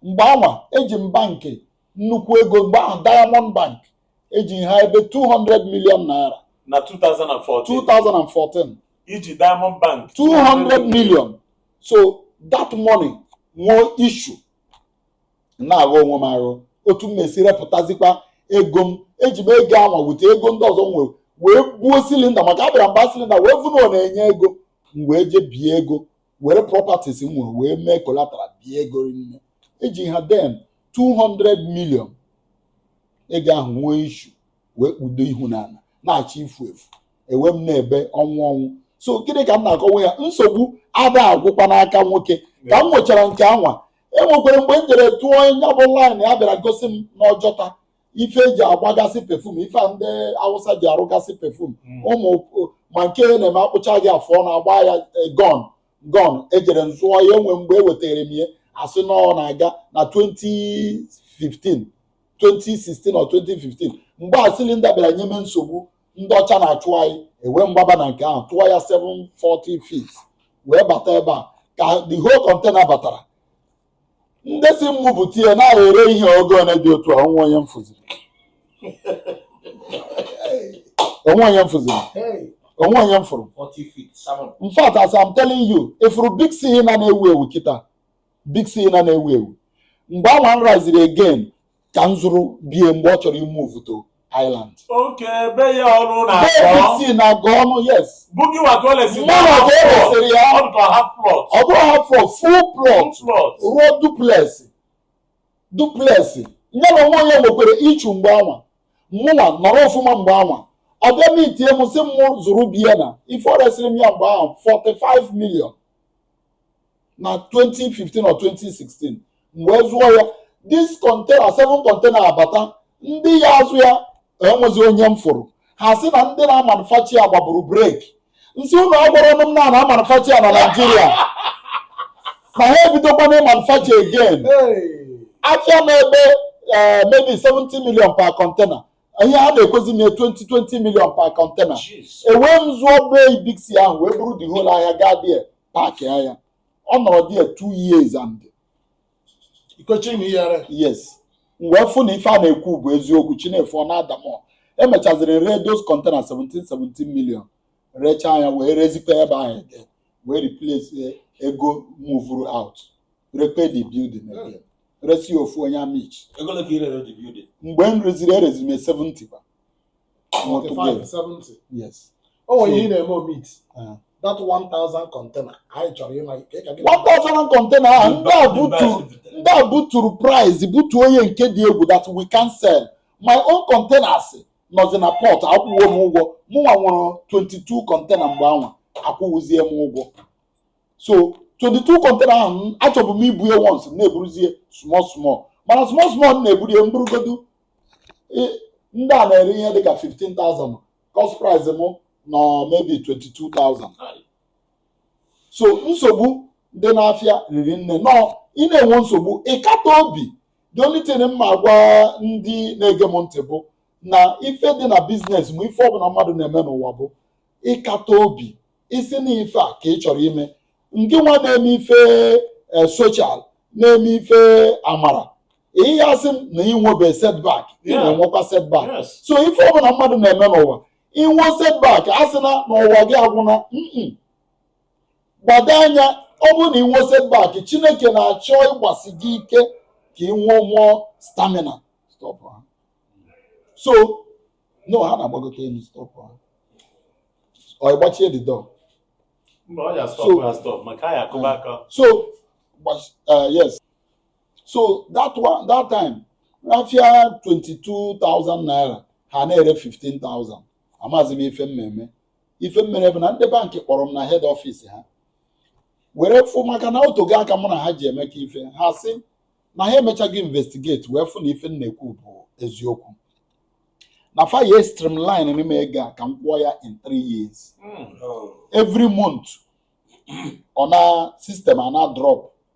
mgbe anwa eji m bankị nnukwu ego mgbe ahụ Diamond Bank eji m ha ebe 200 million naira na 2014 2014 i ji Diamond Bank 200 million so that money nwee issue na-aghọ onwe m aghọ otu m na-esi repụtazikwa ego m eji m ego anwa wute ego ndị ọzọ m nwere wee buo silinda maka abịara m ba silinda wee vụ na ọ na-enye ego m wee je bie ego were properties m nwere wee mee collateral bie ego ri nne eji ha then 200 million ego ahụ nwee issue wee kpudo ihu n'ana na-achọ ifu efu e wee m na-ebe ọnwụ ọnwụ so gịnị ka m na-akọwa ya nsogbu ada agwụkwa n'aka nwoke ka m nwechara nke anwa enwekwara mgbe m jere tụọ nya bụ line a bịara gosi m n'Ọjọta ife e ji agbagasị perfume ife a ndị Awụsa ji arụgasị perfume Mm. ụmụ ma nke ya na-eme a kpụcha gị afọ ọnụ a gbaa ya eh, gun gun ejere m zụọ ya e nwee mgbe e wetara m ya a sị na ọ na-aga na 2015 2016 or 2015 mgbe a silinda bịara nye m nsogbu ndị ọcha na-achụ anyị e wee m gbaba na nke ahụ tụọ ya 7 40 feet wee bata ebe a ka the whole container batara ndị si mụ bute ya na-ere ihe oge one dị otu a o nwe onye m fụziri o nwe onye m fụziri o nwe onye m fụrụ in fact as I'm telling you ị fụrụ big c na na-ewu ewu kịta big c na na-ewu ewu mgbe anwa m raziri again ka m zụrụ be ya mgbe ọ chọrọ ịmove to Island okay be ya ọrụ na big c na agụ ọnụ yes bụ gịnwa ka o lesi Mụnwa ka o lesịrị ya. ọ dịka half plot ọ bụrọ half ọ full plot plot rụọ duplex duplex nya na onwe nya nwekwara issue mgbe anwa mụnwa nọrọ ọfụma mgbe anwa ọ bịa meetie m sị m zụrụ be ya na ife ọ resịrị m ya mgbe ahụ 45 million na 2015 or 2016 m wee zụọ ya this container 7 container abata ndị ya azụ ya enwezi onye m fụrụ ha sị na ndị na-amanufacture ya gbaburu break m sị unu agwarọnụ m na a na-amanufacture ya na Nigeria na ha ebidokwana ịmanufacture again afịa m na-ebe eh, maybe 70 million per container ihe a na-ekwezi m 20 20 million per container ewee m zụọ be big c ahụ wee buru the whole ahịa gaa there parkịa ya ọ nọrọ there two years and ikochi na iyere yes m wee fụ na ife a na-ekwu bụ eziokwu chi na-efo ọ na-ada m emechaziri ree those container 17 17 million rechaa nya wee rezikwa ebe ahụ ede wee replace ego move out repair the building again resi ofu onye Amichi ego ole ka ị rere the building mgbe m reziri ereziri m 70 kwa Multiple. 45 70 Yes. o nwere ihe ị na-eme omit Ah. that 1000 container anyị chọrọ ịma ka ị ka gị 1000 container ahụ ndị a buturu ndị a buturu price butuo nya nke dị egwu that we can sell my own containers nọzi na port akwụwo m ụgwọ mụnwa nwere 22 container mgbe anwa akwụwụzie m ụgwọ so 22 container ahụ m- achọbụ m ibu ya once m na-eburuzie small small mana small small m na-eburu ya m burugodu ndị a na-ere ihe dịka 15,000 cost price m nọ maybe 22,000 so nsogbu dị n'afịa riri nne nọ ị na-enwe nsogbu ị kata obi the only thing m ma-agwa ndị na-ege m ntị bụ na ife dị na business ma ife ọbụla mmadụ na-eme n'ụwa bụ ịkata obi ị sị na ife a ka ị chọrọ ime nke nwa na-eme ife social na-eme ife amara ihe ya asị m na i nwebe setback ị na-enwekwa setback so ife ọbụla mmadụ na-eme n'ụwa i nwee setback asịna na ụwa gị agwụna gbado anya ọ bụrụ na i nwee setback Chineke na-achọ ịgbasi gị ike ka i nwee more stamina so no ha na-agbagote elu stop ha ọ gbachie the door so uh, yes so that time afịa 22,000 naira ha na-ere 15,000 amazi m ife m ma-eme ife m mere bụ na ndị bankị kpọrọ m na head office ha were fụ maka na o tego aka mụ na ha ji emekọ ife ha sị na ha emechago investigate wee fụ na ife m na-ekwu bụ eziokwu na fa ya streamline nye m ego a ka m kwụọ ya in three years every month ọ na system a na-drop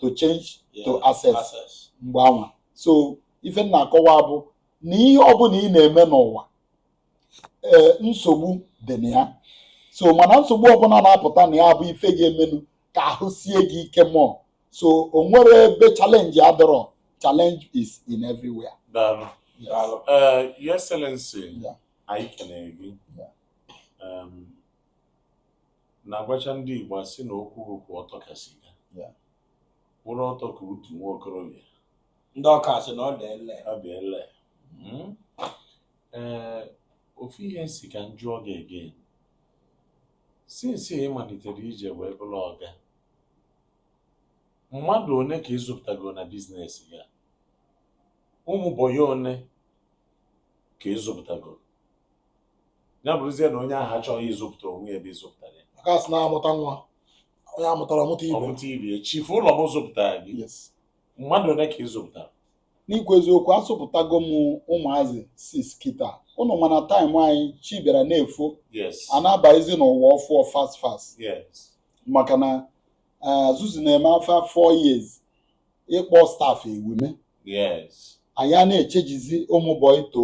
to change to access mgbe anwa so ife m na-akọwa bụ na ihe ọbụla ị na-eme n'ụwa ee eh, nsogbu dị na ya so mana nsogbu ọbụla na-apụta na ya bụ ife ga-emenụ ka ahụ sie gị ike more so o nwere ebe challenge adọrọ challenge is in everywhere. Daalụ. Daalụ. Eh, Your Excellency, anyị kenere gị. na-agwacha ndị Igbo asị na okwu bụ kwụ ọtọ ka siga Yeah. kwụrụ ọtọ ka utu nwa okorobịa ndị Ọka sị na ọ dị ele ọ dị ele Mm. ee ofu ihe m sị ka m jụọ gị again since ị malitere ije wee bụrụ ọga mmadụ one ka ị zụpụtago na business gị ụmụ bọyị one ka ị zụpụtago ya bụrụzie na onye ahụ achọghị ịzụpụta onwe ya ebe ịzụpụtara ya maka a sị na a mụta nwa onye a mụtara ọ mụta ibe ọ mụta ibe ya chifu ụlọ m zụpụtara gị Yes. mmadụ one ka ị zụpụtara n'ikwu eziokwu azụpụtago m ụmụazị six kịta unu ma na time anyị chi bịara na-efo yes a na-abazi n'ụwa ọfụụ fast fast yes maka na eh, zuzu na-eme afọ four years ịkpọ staff ewume yes anyị a na-echangezi ụmụ bọyị to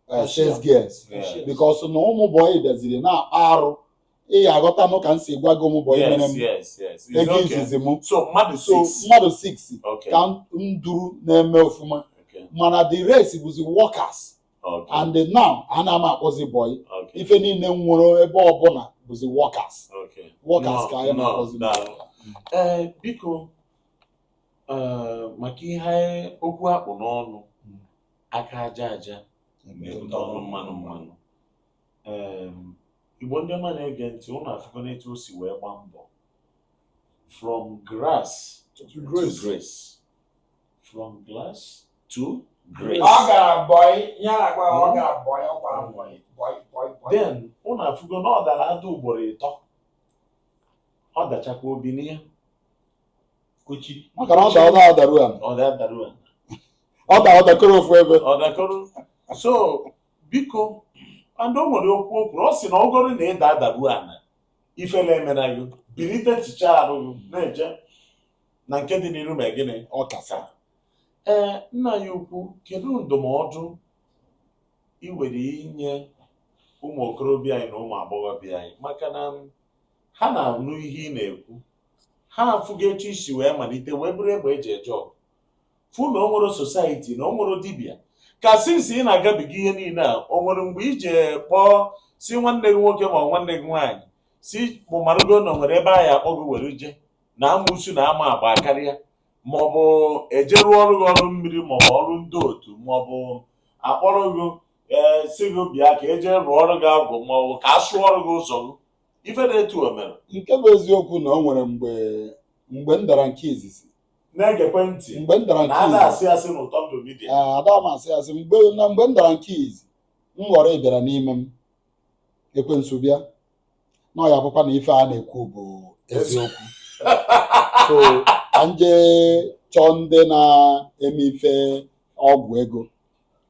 eh, sales girls Yeah. because na ụmụ bọyị bịaziri na-akpa arụ ị ga-aghọta nụ ka m si gwa gị ụmụ bọyị mere Yes, m yes, yes. It's ego okay. izizi m So mmadụ so six. mmadụ 6 Okay. ka m duru na-eme ọfụma Okay. mana the rest bụzi workers Okay. and now ana m akpọzi bọyị Okay. ife niile m nwere ebe ọbụla bụzi workers Okay. workers ka anyị Nọ, na-akpọzi nọ, daalụ. Ee, biko ee, maka ihe okwu akpụ n'ọnụ aka aja aja na-ebute ọnụ mmanụ mmanụ Em, igbo ndị ọma na-ege ntị ụnụ afụgo n'etu o si wee gba mbọ from grass to to grace. grace from glass to grace Ọ gara bọị, ihe a na-agba, ọ gara bọị, ọ gbara bọị, bọị, bọị, bọị. then ụnụ afụgo na ọ dara ada ugboro ịtọ ọ dachakwa o binie kuchi maka na ọ dara ọ dara ru ala ọ dara dara ọ da ọ dakọrọ ofu ebe ọ dakọrọ so biko and o nwere okwu o kwuru ọ sị na ọ bụrụ na ị daa daru ana ifele emena gị bilite tichaa arụ gị na-eje na nke dị n'iru ma gịnị ọ kasa ee nna ya ukwu kedu ndụmọdụ ị nwere inye ụmụ okorobịa anyị na ụmụ agbọghọbịa anyị maka na ha na-anụ ihe ị na-ekwu ha afụgo etu i si wee malite wee bụrụ egbe eji eje ọgụ fụ na o nwerọ society na o nwerọ dibịa ka since ị na-agabiga ihe niile a o nwere mgbe ije kpọọ si nwanne gị nwoke ma nwanne gị nwaanyị sị mụ amarago na o nwere ebe a ya-akpọ gị were je na amụsu na ama agba karịa maọbụ eje rụọrọ gị ọrụ mmiri maọbụ ọrụ ndị otu maọbụ akpọrọ gị ee sị gị bịa ka eje rụọrọ gị agwụ maọbụ ka a sụọrọ gị ụzọ gị ife dị etu a o mere nke bụ eziokwu na o nwere mgbe mgbe m dara nke izizi na-egekwe ntị mgbe m dara nke izizi ada asị asị n'ụtọ ndụ media Ee, ada m asị asị mgbe na mgbe m dara nke izizi m ghọrọ ị bịara n'ime m ekwensu bịa na ọ ya-abụkwa na ife a na-ekwu bụ eziokwu so ka m jee chọọ ndị na-eme ife ọgwụ ego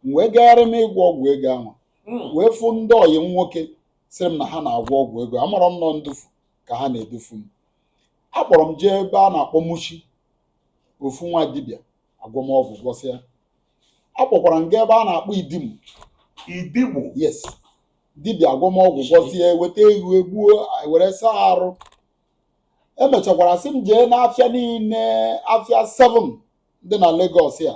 m wee gagharị m ịgwọ ọgwụ ego ahụ Mm. wee fụ ndị ọyị m nwoke sịrị m na ha na-agwọ ọgwụ ego amarọ m na ọ ndufu ka ha na-edufu m a kpọrọ m jee ebe a na-akpọ Mushin ofu nwa dibịa agwọọ m ọgwụ gwọsịa a kpọkwara m gaa ebe a na-akpọ Idimu Idimu yes dibịa agwọọ m ọgwụ gwọsịa weta ewu egbuo were saa arụ emechakwara sị m jee n'afịa niile afịa 7 dị na Lagos ya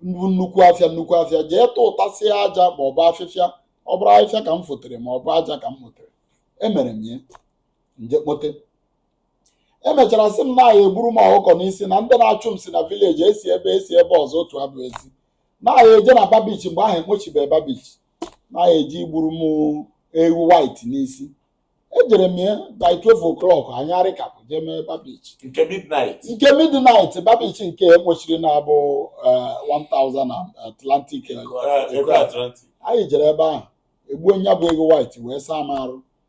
bụ nnukwu afịa nnukwu afịa jee tụtụtasịa aja ma ọ bụ afịfịa ọ bụrụ afịfịa ka m fotere ma ọ bụ aja ka m kpotere emere m ya m je kpote emechara sị m na a ya-egburu m ọkụkọ n'isi na ndị na-achụ m si na village esi ebe esi ebe ọzọ otu abụ asị na anyị eje na Bar Beach mgbe ahụ ekpochibe Bar Beach na anyị eje igburu m ewu white n'isi ejere m ya by 12 o'clock anyị arịkapụ jee mee Bar Beach nke midnight nke midnight Bar Beach nke ekpochiri na-abụ eh, 1000 na atlantic eh, Eh, Eko atlantic anyị jere ebe ahụ egbuo nya bụ ewu white wee saa m arụ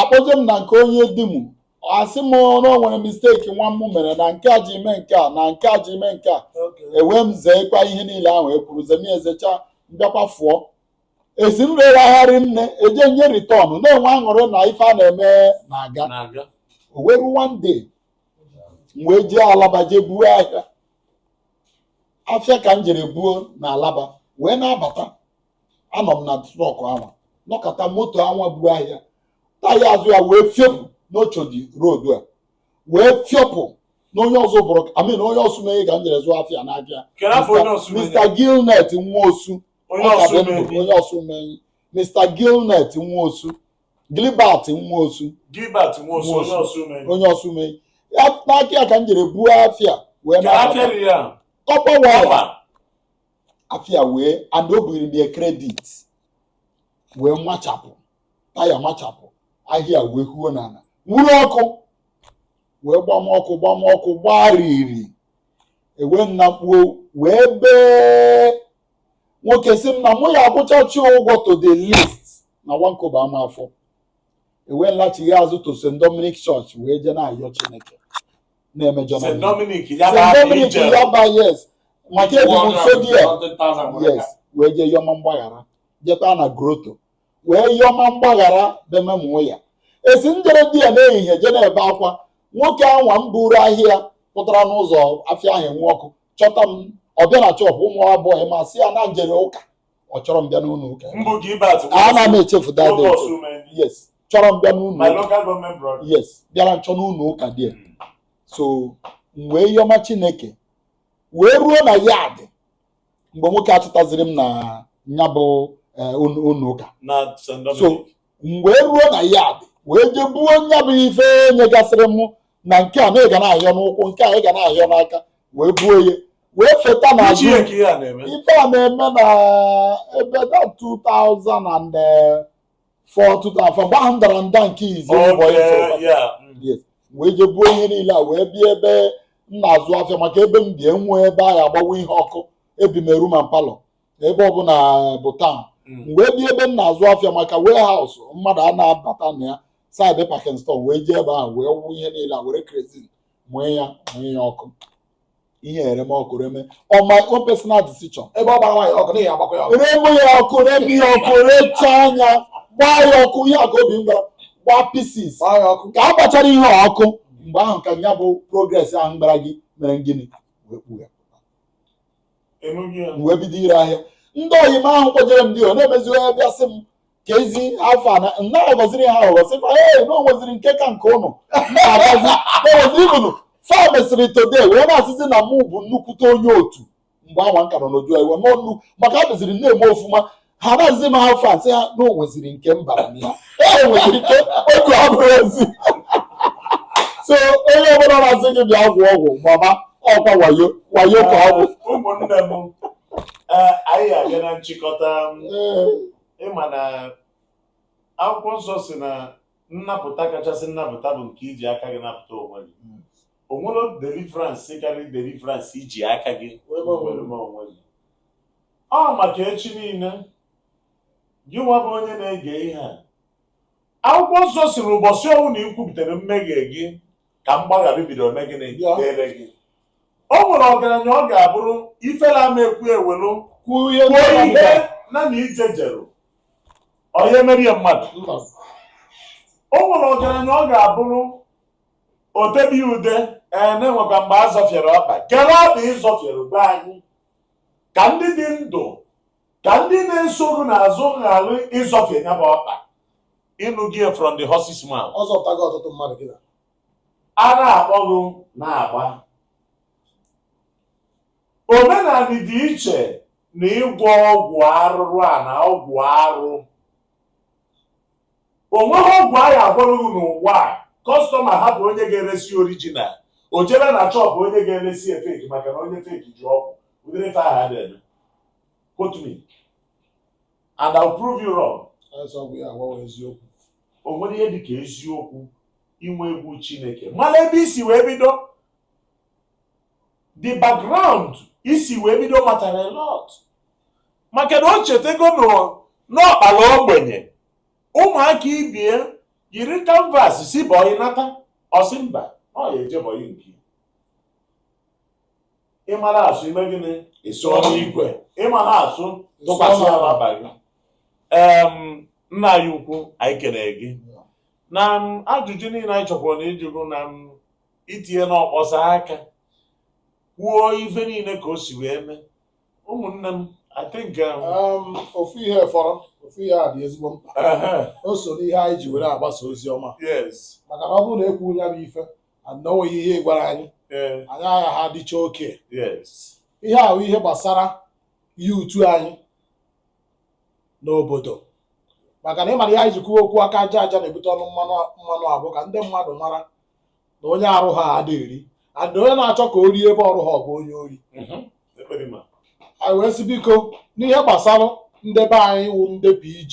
akpọje m na nke onye di m asị m na o nwere misteki nwa m mere na nke a ji eme nke a na nke a ji eme nke a ewee m zeekwa ihe niile ahụ e kwuru zemi ezecha m bịakwa fụọ esi m rewe ahịa rinne eje nye ritọn na-enwe aṅụrị na ife a na-eme na-aga na-aga o wee ruo one day m wee jee Alaba jee buo ahịa afịa ka m jere buo na Alaba wee na-abata anọ m na trọk anwa nọkọta moto anwa bu ahịa taya azụ ya wee fiopụ n'ochodi rodu a wee fiopụ na onye ọzọ bụrụ amin onye ọsụ mee ka m jere zụọ afịa n'abịa Kedu afọ onye ọsụ mee? mr gilnet nwa osu Onye ọ ka ọsụ dị ndụ, mee. onye ọsụ mee mr gilnet nwa osu gilbert nwa osu Gilbert Nwosu, Nwosu. onye ọsụ mee. onye ọsụ mee ya n'aka ya ka m jere buo afịa wee Kedu na-abata. afịa dị ya? tọpọ waya Ọba. afịa wee and o biri m kredit wee machapụ taya machapụ ahịa wee huo n'ala nwuru ọkụ wee gbama ọkụ gbama ọkụ gbariri ewee m nakpuo wee bee nwoke sị m na mụ ya akwụchachi ụgwọ to the least na one kobo ama afọ ewee m lachighaa azụ to St. Dominic Church wee jee na-ayọ Chineke na-eme St. Dominic Yaba yes maka ebi m nso there yes wee jee yọma mgbaghara jekwa na groto wee yọma mgbaghara bememụọ ya esi m jere there n'ehihie je na-ebe akwa nwoke anwa m buru ahịa pụtara n'ụzọ afịa ahụ nwuo ọkụ chọta m ọ bịa na shọpụ ụmụ boy m asị ya na m jere ụka ọ chọrọ m bịa n'ụlọ ụka ana m echefu that day yes chọrọ m bịa n'ụlọ ụka yes bịara nchọ n'ụlọ ụka there so m wee yọma Chineke wee ruo na yad mgbe nwoke a chọtaziri m na ya bụ ụlọ ụka so m wee ruo na yad wee jee buo nya bụ ife e nyegasịrị m na nke a na ị ga na-ahịọ n'ụkwụ nke a ị ga na-ahịọ n'aka wee buo ya wee feta ife a na-eme na ebe 2004 2005 mgbe ahụ m dara nda nke izi mbụ so wee je buo ihe niile a wee bịa ebe m na-azụ afịa maka ebe m bi enwe ebe a ya agbawa ihe ọkụ ebi m room and palọ ebe ọbụla bụ taụn m wee bịa ebe m na-azụ afịa maka warehouse mmadụ a na-abata na ya saịdị packing store wee jee ebe ahụ wee wụ ihe niile a were kerozin mụọ ya mụọ ya ọkụ ihe ereme ọkụ reme on my own personal decision ebe ọ gbara nwaanyị ọkụ n'ihi agbakwa ya ọkụ reme ya ọkụ reme ya ọkụ rechaa anya gbaa ya ọkụ ihe a ka obi m gwara gbaa pieces gbaa ya ọkụ ka a gbachara ihe a ọkụ mgbe ahụ ka ya bụ progress ahụ gbara gị mere gịnị wee kpuo ya m wee bido ire ahịa ndị oyi m ahụ kpọjere m there na-emeziwe ya bịa sị m ka ezi afọ a na-aghọziri ha aghọzi fa ee na onweziri nke ka nke ụnụ na-agbazi onwezi ibunu fa mesịrị today wee na-asịzi na mụ bụ nnukwute onye otu mgbe anwa nka nọ n'oju iwe n'ọnụ maka adịziri na-eme ofuma ha na-azị m afọ asị ha na onweziri nke mbara na ya ee nweziri nke otu abụrụ ezi so onye ọbụla na-asị gị bịa gwọ ọgwụ mama ọkwa wayo wayo ka ọ bụ ụmụnne m ee, anyị abịa na nchịkọta m, ịma na akwụkwọ nsọ si na nnapụta kachasị nnapụta bụ nke iji aka gị napụta onwe gị hmm. o nwerọ deliverance karịrị deliverance iji aka gị mere onwe gị ọ maka echi niile gị nwa bụ onye na-ege ihe a akwụkwọ nsọ si na ụbọchị ọbụna ikwupụtara mmehie gị ka mgbaghara bidoro mee gịnị Bịa. dịrị gị o nwerọ ọgaranya ọ ga-abụrụ ifela ama ekwu ewelu kwuo ihe kwuo ndị ihe ọbụla. na na ije jeru onye emerie mmadụ Mba. o nwerọ ọgaranya ọ ga-abụrụ otebi ude ee na-enwekwa mgbe a zọfiere ọkpa kedụ ọkpa ịzọfiere gwa anyị ka ndị dị ndụ ka ndị na-eso gị n'azụ ghara ịzọfie ya bụ ọkpa ịnụ gị from the horse's mouth ọ zọpụtago ọtụtụ mmadụ gị na a na-akpọ gị na-agba omenala dị iche na ịgwọ ọgwụ arụrụ ana ọgwụ arụ o nweghị ọgwụ a ya-agwọrọ gị n'ụwa a kọstọma hapụ onye ga-eresi orijinal o jebe na chọpụ onye ga-eresi ya feki maka na onye feki ji ọgwụ ụdịrị ife ahụ adịghị quote me and I'll prove you wrong o nwere ihe dị ka eziokwu inwe egwu Chineke mana ebe isi wee bido the background isi wee bido matara a lot maka na o chetego n'ọkpala ogbenye ụmụaka ibe ya yiri kanvas si bọyị nata ọ sị mba ọ ya eje bọyị nke ịmara asụ ime gịnị ịsụọ n'ikwe ịmarọ asụ tụkwasị ala abalị nna anyị ukwu anyị ekene gị na ajụjụ niile anyị chọkwara na ịjụrụ na itinye n'ọkpọsa aka kwuo ife niile ka o si wee mee ụmụnne m I think um, um, ofu ihe fọrọ ofu ihe a dị ezigbo mkpa o so n'ihe anyị ji were agbasa ozi ọma maka na ọ bụrụ na ekwughị ya bụ ife na o nweghị ihe ị gwara anyị ee anyị agha ha dịcha okay yes ihe ahụ ihe gbasara ihe ụtụ anyị n'obodo maka na ị mara ihe anyị ji kwuo okwu aka aja aja na-ebute ọnụ mmanụ mmanụ a bụ ka ndị mmadụ mara na onye arụha adịghị eri and onye na-achọ ka o rie ebe ọ rụha ọ bụ onye ori Mhm. ekpere ma anyị wee sị biko n'ihe gbasara ndị be anyị wụ ndị PG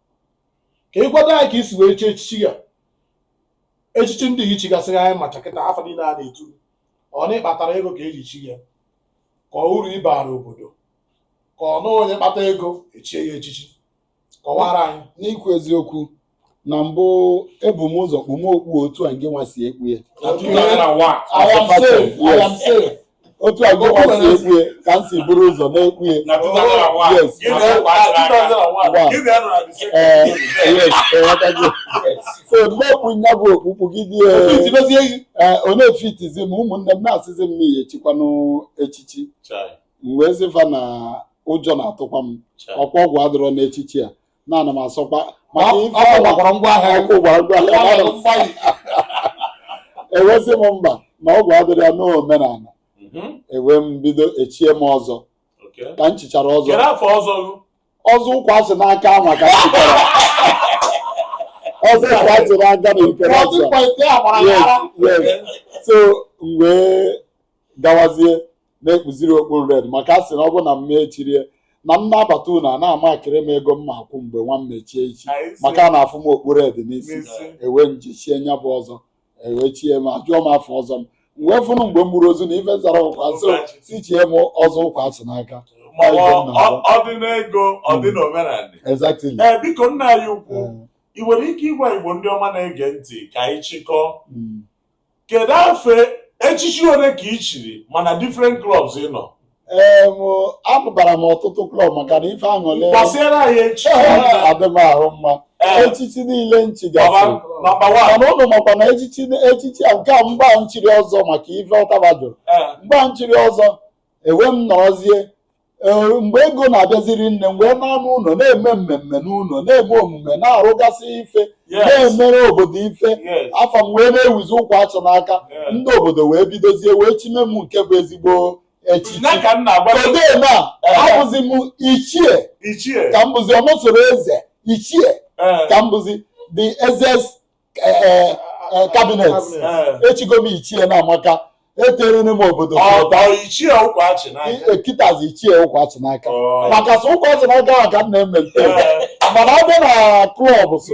ka ị gwado anyị ka i si wee chie echichi ya echichi ndị gị chigasịrị anyị macha kịta afa niile a na-etu ọ na ị kpatara ego ka e ji chi ya ka ọ uru ị bara obodo ka ọ na onye kpata ego e chie ya echichi kọwara anyị n'ikwu eziokwu na mbụ ebu m ụzọ kpume okpu otu a gị nwa si ekpu ya na 2001 I am safe, I am safe. otu a gị nwa si ekpu ya ka m si buru ụzọ na-ekpu ya na 2001 yes gị na na- ụwa na- gara aga. 2001 gị na-anọ na the same ee place. yes ewetago so m ekpu nya bụ okpu kpugide Otu iti mezie gị. ee ọ na-efitizi m ụmụnne m na-asịzi m na ị ya-echikwanụ echichi Chai, m wee sị va na ụjọ na-atụkwa m chai. ọ kwa ọgwụ adịrọ n'echichi a na ana m asọkwa maka Ọ- ife ọ ahụ- gwakwara ngwa ahịa ya. ọkụ gwara ngwa ahịa, ana m asọ. e wee sị m mba na ọgwụ adịrọ ya n'omenala Mhm. ewee m bido e chie m ọzọ Okay. ka m chichara ọzọ Kere afọ ọzọ gụ. ọzọ ụkwa achị n'aka anwa ka m chichara ọzọ ụkwa achị n'aka na ikere Ọzọ asị a. ịkwa ite a gbara ya ara. Yes, yes. so m wee gawazie na-ekpuziri okpu red maka a sị na ọ bụ na m mechirie na m na-abata ụnọ a na-amakịrị m ego m ma akwụ mgbe nwa m mechie ichi Anyị si- maka a na-afụ m okpu red n'isi n'isi. ewee m je chie nya bụ ọzọ e wee chie m a jụọ m afa ọzọ m m wee fụnụ mgbe m gburu ozu na ife zara ụkwa so sị chie m ọzọ ụkwa achị n'aka Ma ọ- ọ- ọ dị n'ego ọ dị n'omenala exactly ee biko nna anyị ukwu Eh, ị nwere ike ịgwa igbo ndị ọma na-ege ntị ka anyị chịkọọ mm. kedu afa echichi ole ka ị chiri ma na different clubs ị nọ ee mụ- apụtara m ọtụtụ klọb maka na ife aṅụlị gbasiere anyị echichi adị m ahụ mma Ee. echichi niile m chigasịrị nọmba wan mana unu makwa na echichi echichi a nke a mgbe m chiri ọzọ maka ife ọtaba jụrụ mgbe m chiri ọzọ ewee m nọrọzie ee mgbe ego na-abịazi rinne m wee na-ana ụlọ na-eme mmemme n'ụlọ na-eme omume na-arụgasị ife Yes. na-emere obodo ife Yes. afa m wee na-ewuzi ụkwa achị n'aka Yeah. ndị obodo wee bidozie wee chime m nke bụ ezigbo echichi na ka m na-agwa gị odee na Eh. abụzi m ichie ichie ka m bụzi ọnụsoro eze ichie eh, ka m bụzi the eze's kabinet echigo m ichie na amaka etere m obodo ekitazi ichie ụkwachi n'aka maka sọ ụkwachi n'aka ahụ ka m na-emelite mana abịa na klọb so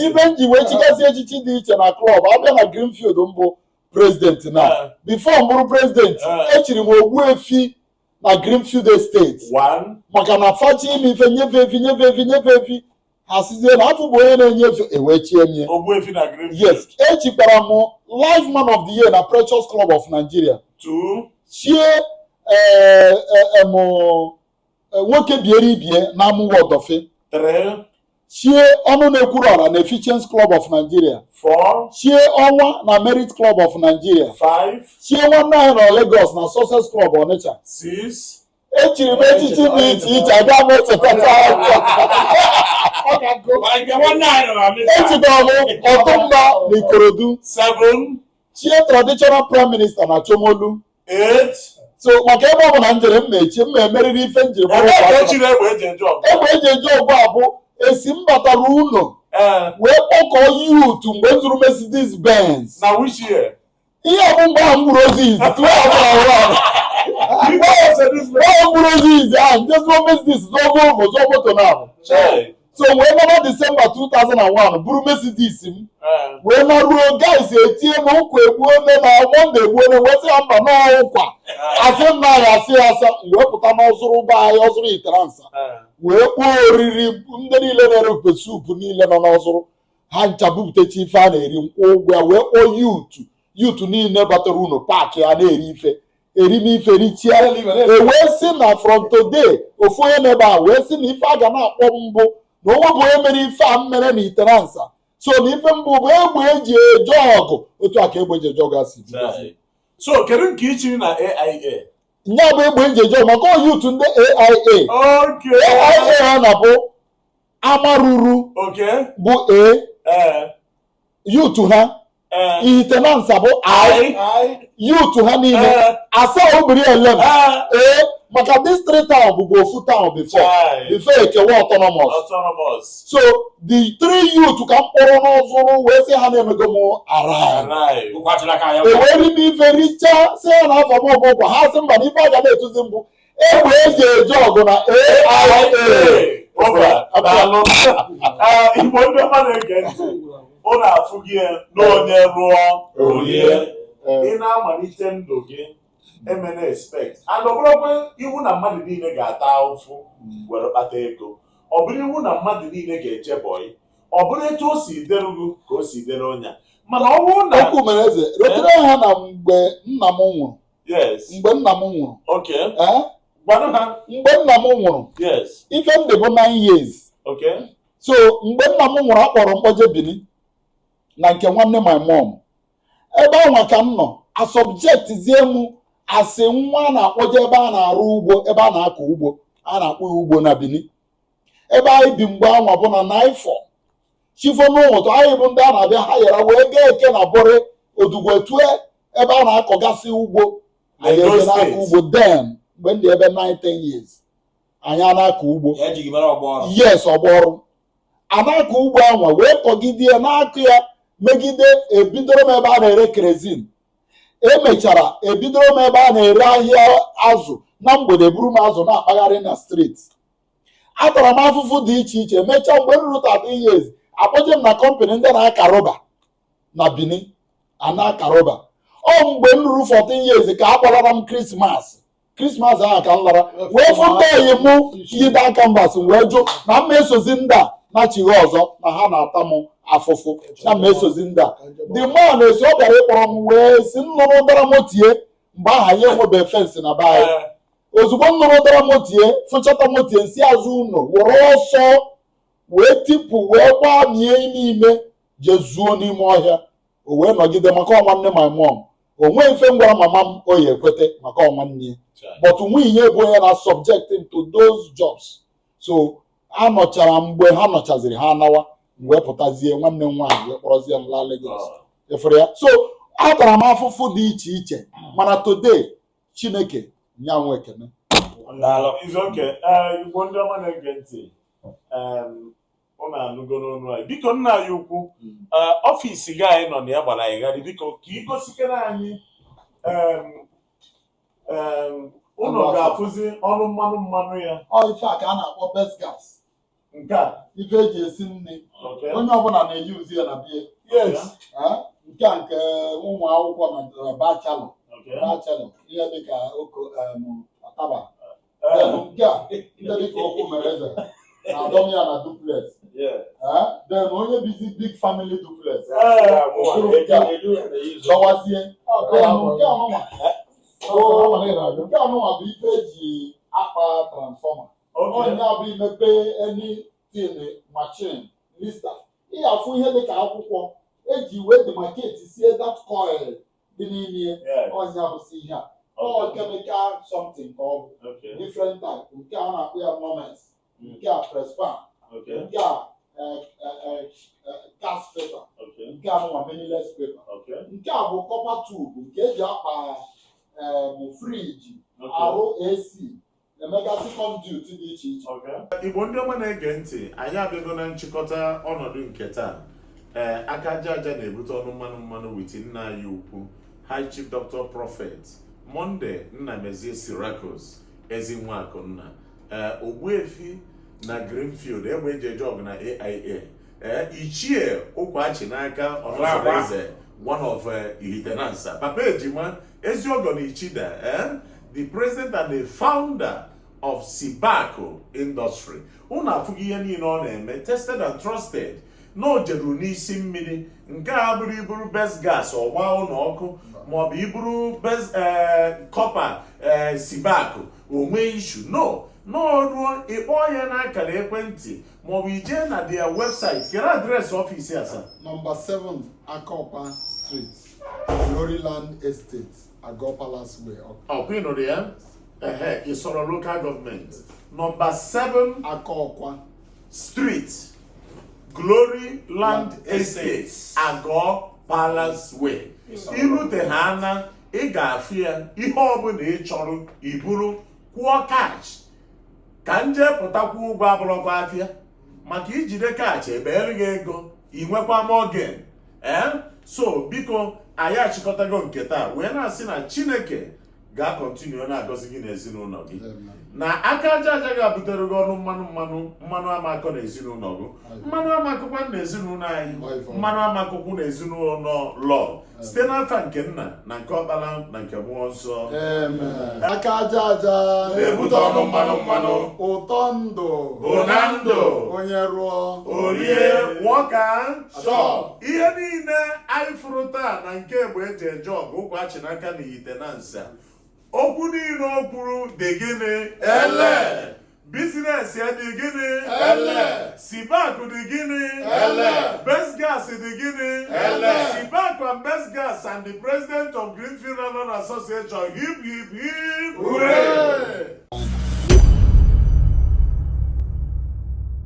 ibe m ji wee chikasị echichi dị iche na klọb abịa na Greenfield m bụ prezidenti na bifo m bụrụ prezidenti echiri m Ogbuefi na Greenfield Estate maka na fa chọ ime ife nye fa efi nye fa efi nye fa efi ha sịzie na afa m bụ onye na-enye efi ewee chie mie Ogbuefi na Greenfield. yes echikwara m life man of the year na Precious Club of Nigeria Two. chie eh, eh, em, eh, nwoke biere ibie na Amuwo Odofin Three. chie ọnụ na-ekwuru ọra na Efficiency Club of Nigeria Four. chie ọnwa na Merit Club of Nigeria Five. chie nwanne anyị na Lagos na Success Club Onitsha Six. echiri m echichi dị iche iche aga m echetacha echiri m Otunba na Ikorodu chie traditional prime minister na Shomolu so maka ebe ọ bụla m jere m na-echi m na-emerịrị ife njiri egbe eji eje ọgụ a bụ esi m batara ụlọ wee kpọkọọ yut mgbe m zụrụ Mercedes Benz na which year ihe bụ mgbe ahụ m gburu ozu izizi tụọ ọbụla ọhụrụ ahụ mgbe ahụ m gburu ozu izizi ahụ m je zụọ Mercedes zụọ Volvo zụọ moto na ahụ so wee naba Disemba 2001 buru Mercedes m wee naruo guys etie m ụkwa egbuone na mọnde egbuone wee sị ya mba na ụkwa asị m na ya asị ya asa wee pụta n'ọzụrụ be anyị ọzụrụ Ihitenansa wee kpọọ oriri ndị niile na-ere pepper soup niile nọ n'ọzụrụ ha ncha bupụtacha ife a na-eri m kwụọ ụgwọ ya wee kpọọ yutu yutu niile batara ụnọ paakị ya na-eri ife eri n'ife richia ewee sị na from today ofu onye n'ebe a wee sị na ife a ga na-akpọ m bụ na o nwebu onye mere ife a m mere na Ihitenansa so na ife m bụ bụ egbe eji eje ọgụ otu a ka egbe eji eje ọgụ a si dị so kedu nke ichiri na AIA nya bụ egbe eji eje ọgụ maka ọ yutu ndị AIA AIA ha na-abụ Amaruru bụ A yutu ha Ihitenansa bụ I yutu ha niile Asaa Ubirielem A maka this three town bụbu ofu town before before ekewa autonomous so the three youth ka m kpọrọ n'ọzụrụ wee sị ha na-emego m arrive ewee rie ife richa sị ha na afa m bụ ụkwa ha sị mba na ife aga na-etuzi m bụ egbe eji eje ọgụ na AIA igbo ndị ọma na-ege ntị ụnụ afụgo n'onye rụọ o rie ị na-amalite ndụ gị emena expect and ọ bụrọkwa iwu na mmadụ niile ga-ata ụfụ were kpata ego ọ bụrọ iwu na mmadụ niile ga-eje bọyị ọ bụrọ etu o si dịrị gị ka o si dịrị onye mana ọ bụrụ na okwu mere eze rotere ha na mgbe nna m nwụrụ mgbe nna m nwụrụ eh? mgbe nna m nwụrụ ife m dị bụ 9 years so mgbe nna m nwụrụ a kpọrọ m kpọje Bini na nke nwanne my mom ebe anwa ka m nọ a subjectizie m asị nwa a na-akpọje ebe a na-arụ ugbo ebe a na-akọ ugbo a na-akpọ ya ugbo na Bini ebe anyị bi mgbe anwa bụ na NIFOR chi fo n'ụtụtụ anyị bụ ndị a na-abịa hayara wee gaa eke na bụrị Odiguetue ebe a na-akọgasị ugbo anyị Edo ebe na-akọ State. ugbo then mgbe m dị ebe 9-10 years anyị a na-akọ ugbo ya ji gị mara ọgba ọrụ yes ọgba ọrụ a na-akọ ugbo anwa wee kọgide ya na-akọ ya megide ebidoro m ebe a na-ere kerosene emechara ebidoro m ebe a na-ere ahịa azụ na mgbede eburu m azụ na-akpagharị na street atara m afụfụ dị iche iche mechaa mgbe m ruru 13 years akpọje m na company ndị na-aka rọba na Benin a na-aka rọba ọ mgbe m ruru 14 years ka a kpọlara m krismas krismas ahụ ka m lara wee fụ ndị ọyị mụ yide canvas wee jụ na m ma esozi ndị a nachighi ọzọ na ha na-ata m afụfụ na m ma esozi ndị a the man na-asị ọ bịara ịkpọrọ m wee si m nụrụ ụdara moto ya mgbe aha anyị enwebeghị fence na be anyị ozugbo m nụrụ ụdara moto ya fụchata moto ya m si azụ ụlọ were ọsọ wee tipụ wee gbamie n'ime jezuo n'ime ọhịa o wee nọgide maka ọ nwanne my mom o nweghị ife m gwara mama m ọ ya-ekwete maka ọ nwanne ya but nwunye ya bụ onye na-subject m to those jobs so a nọchara mgbe ha nọchaziri ha anawa m wee pụtazie nwanne m nwaanyị wee kpọrọzie m laa Lagos efere ya so atara m afụfụ dị iche iche mana today chineke nya nwe ekene Daalụ. It's okay ee igbo ndị ọma na-ege ntị em, ụnụ anụgo n'ọnụ anyị biko nna anyị ukwu ee, ọfịs gị anyị nọ na ya gbara anyị gharị biko ka ị gosikene anyị em, em, ụnụ ga-afụzi ụnọ mmanụ mmanụ ya ọ ife a ka a na-akpọ best gas nke a ife eji esi nri onye ọbụla na-eji uzi ya na bie nke a nke ụmụ akwụkwọ na bachalọ bachalọ ihe dịka oko ọtaba nke a ndị dịka okwu mere eze na adọm ya na duplex then onye bizi big family duplex dọwazie nke a nụnwa bụ ife eji akpa transfọma ọnya bụ imepe anything machine Lister ị ga-afụ ihe dị ka akwụkwọ eji wee demarcatesie that coil dị n'ime ya Yes. ọnya bụsi ihe a ọ Okay. chemical something ka ọ bụ Okay. different type nke a na-akpọ ya Nomex Mm. nke a presspan Okay. nke a eh, eh, eh, eh, gas paper Okay. nke a nụnwa Melinex paper Okay. nke a bụ copper tube nke eji akpa em, friji Okay. arụ AC na-emegasị conduit dị iche iche igbo ndị ọma na-ege ntị anyị abịago na nchịkọta ọnọdụ nke taa ee aka aja aja na-ebute ọnụ mmanụ mmanụ witi nna anyị ukwu high chief dr prophet Monday nnamezie sirakus ezi nwa akụnna ee ogbuefi na greenfield egbe eji eje ọgụ na aia ee ichie ụkwa achị n'aka ọnọzọreze one of eh, ihitenansa papa ejima Ezi ọgọ na Ichida, eh? the president and the founder of Sibako industry. Unu afụghị ihe niile ọ na-eme tested and trusted na o jeruru n'isi mmiri nke a bụrụ iburu best gas ọ gbaa ụlọ ọkụ maọbụ iburu best copper eh, eh, Sibako o nwee issue nọ n'ọrụ ị kpọọ ya n'akara ekwentị maọbụ ije na their website kere address office a sir nọmba 7 Akọkwa Street Gloryland Estate, Ago Palace Way. Ọkwa ịnụrụ ya? Ehe, Isolo local government. Nọmba 7 Akọkwa Street, Glory Land Estate, Ago Palace Way. Irute ha na ị ga-afụ ya ihe ọbụla ị chọrọ iburu kwụọ cash ka m jee pụta kwụọ ụgwọ abụrọkwa afịa maka ijide cash ebeere gị ego ị nwekwa more gain ee eh? so biko anyị achịkọtago nke taa wee na-asị na chineke ga-akọntinu na-agọzi gị na ezinụlọ gị na aka aja aja ga-ebutere gị ọnụ mmanụ mmanụ mmanụ ama akọ na ezinụlọ gị mmanụ ama akọkwa na ezinụlọ anyị mmanụ ama akọkwu na ezinụlọ lọl site n'afa nke nna na nke ọkpara na nke mmụọ nsọ aka aja aja na-ebute ọnụ mmanụ mmanụ ụtọ ndụ bụ na ndụ onye rụọ o rie nwoke so ihe niile anyị fụrụ taa na nke egbe eji eje ọgụ ụkwa achị n'aka na ihitenansa okwu niile o kwuru dị gịnị ele bizinesi dị gịnị ele sibak dị gịnị ele besgas dị gịnị ele sibak and besgas and the president of greenfield Run association hip hip hip hooray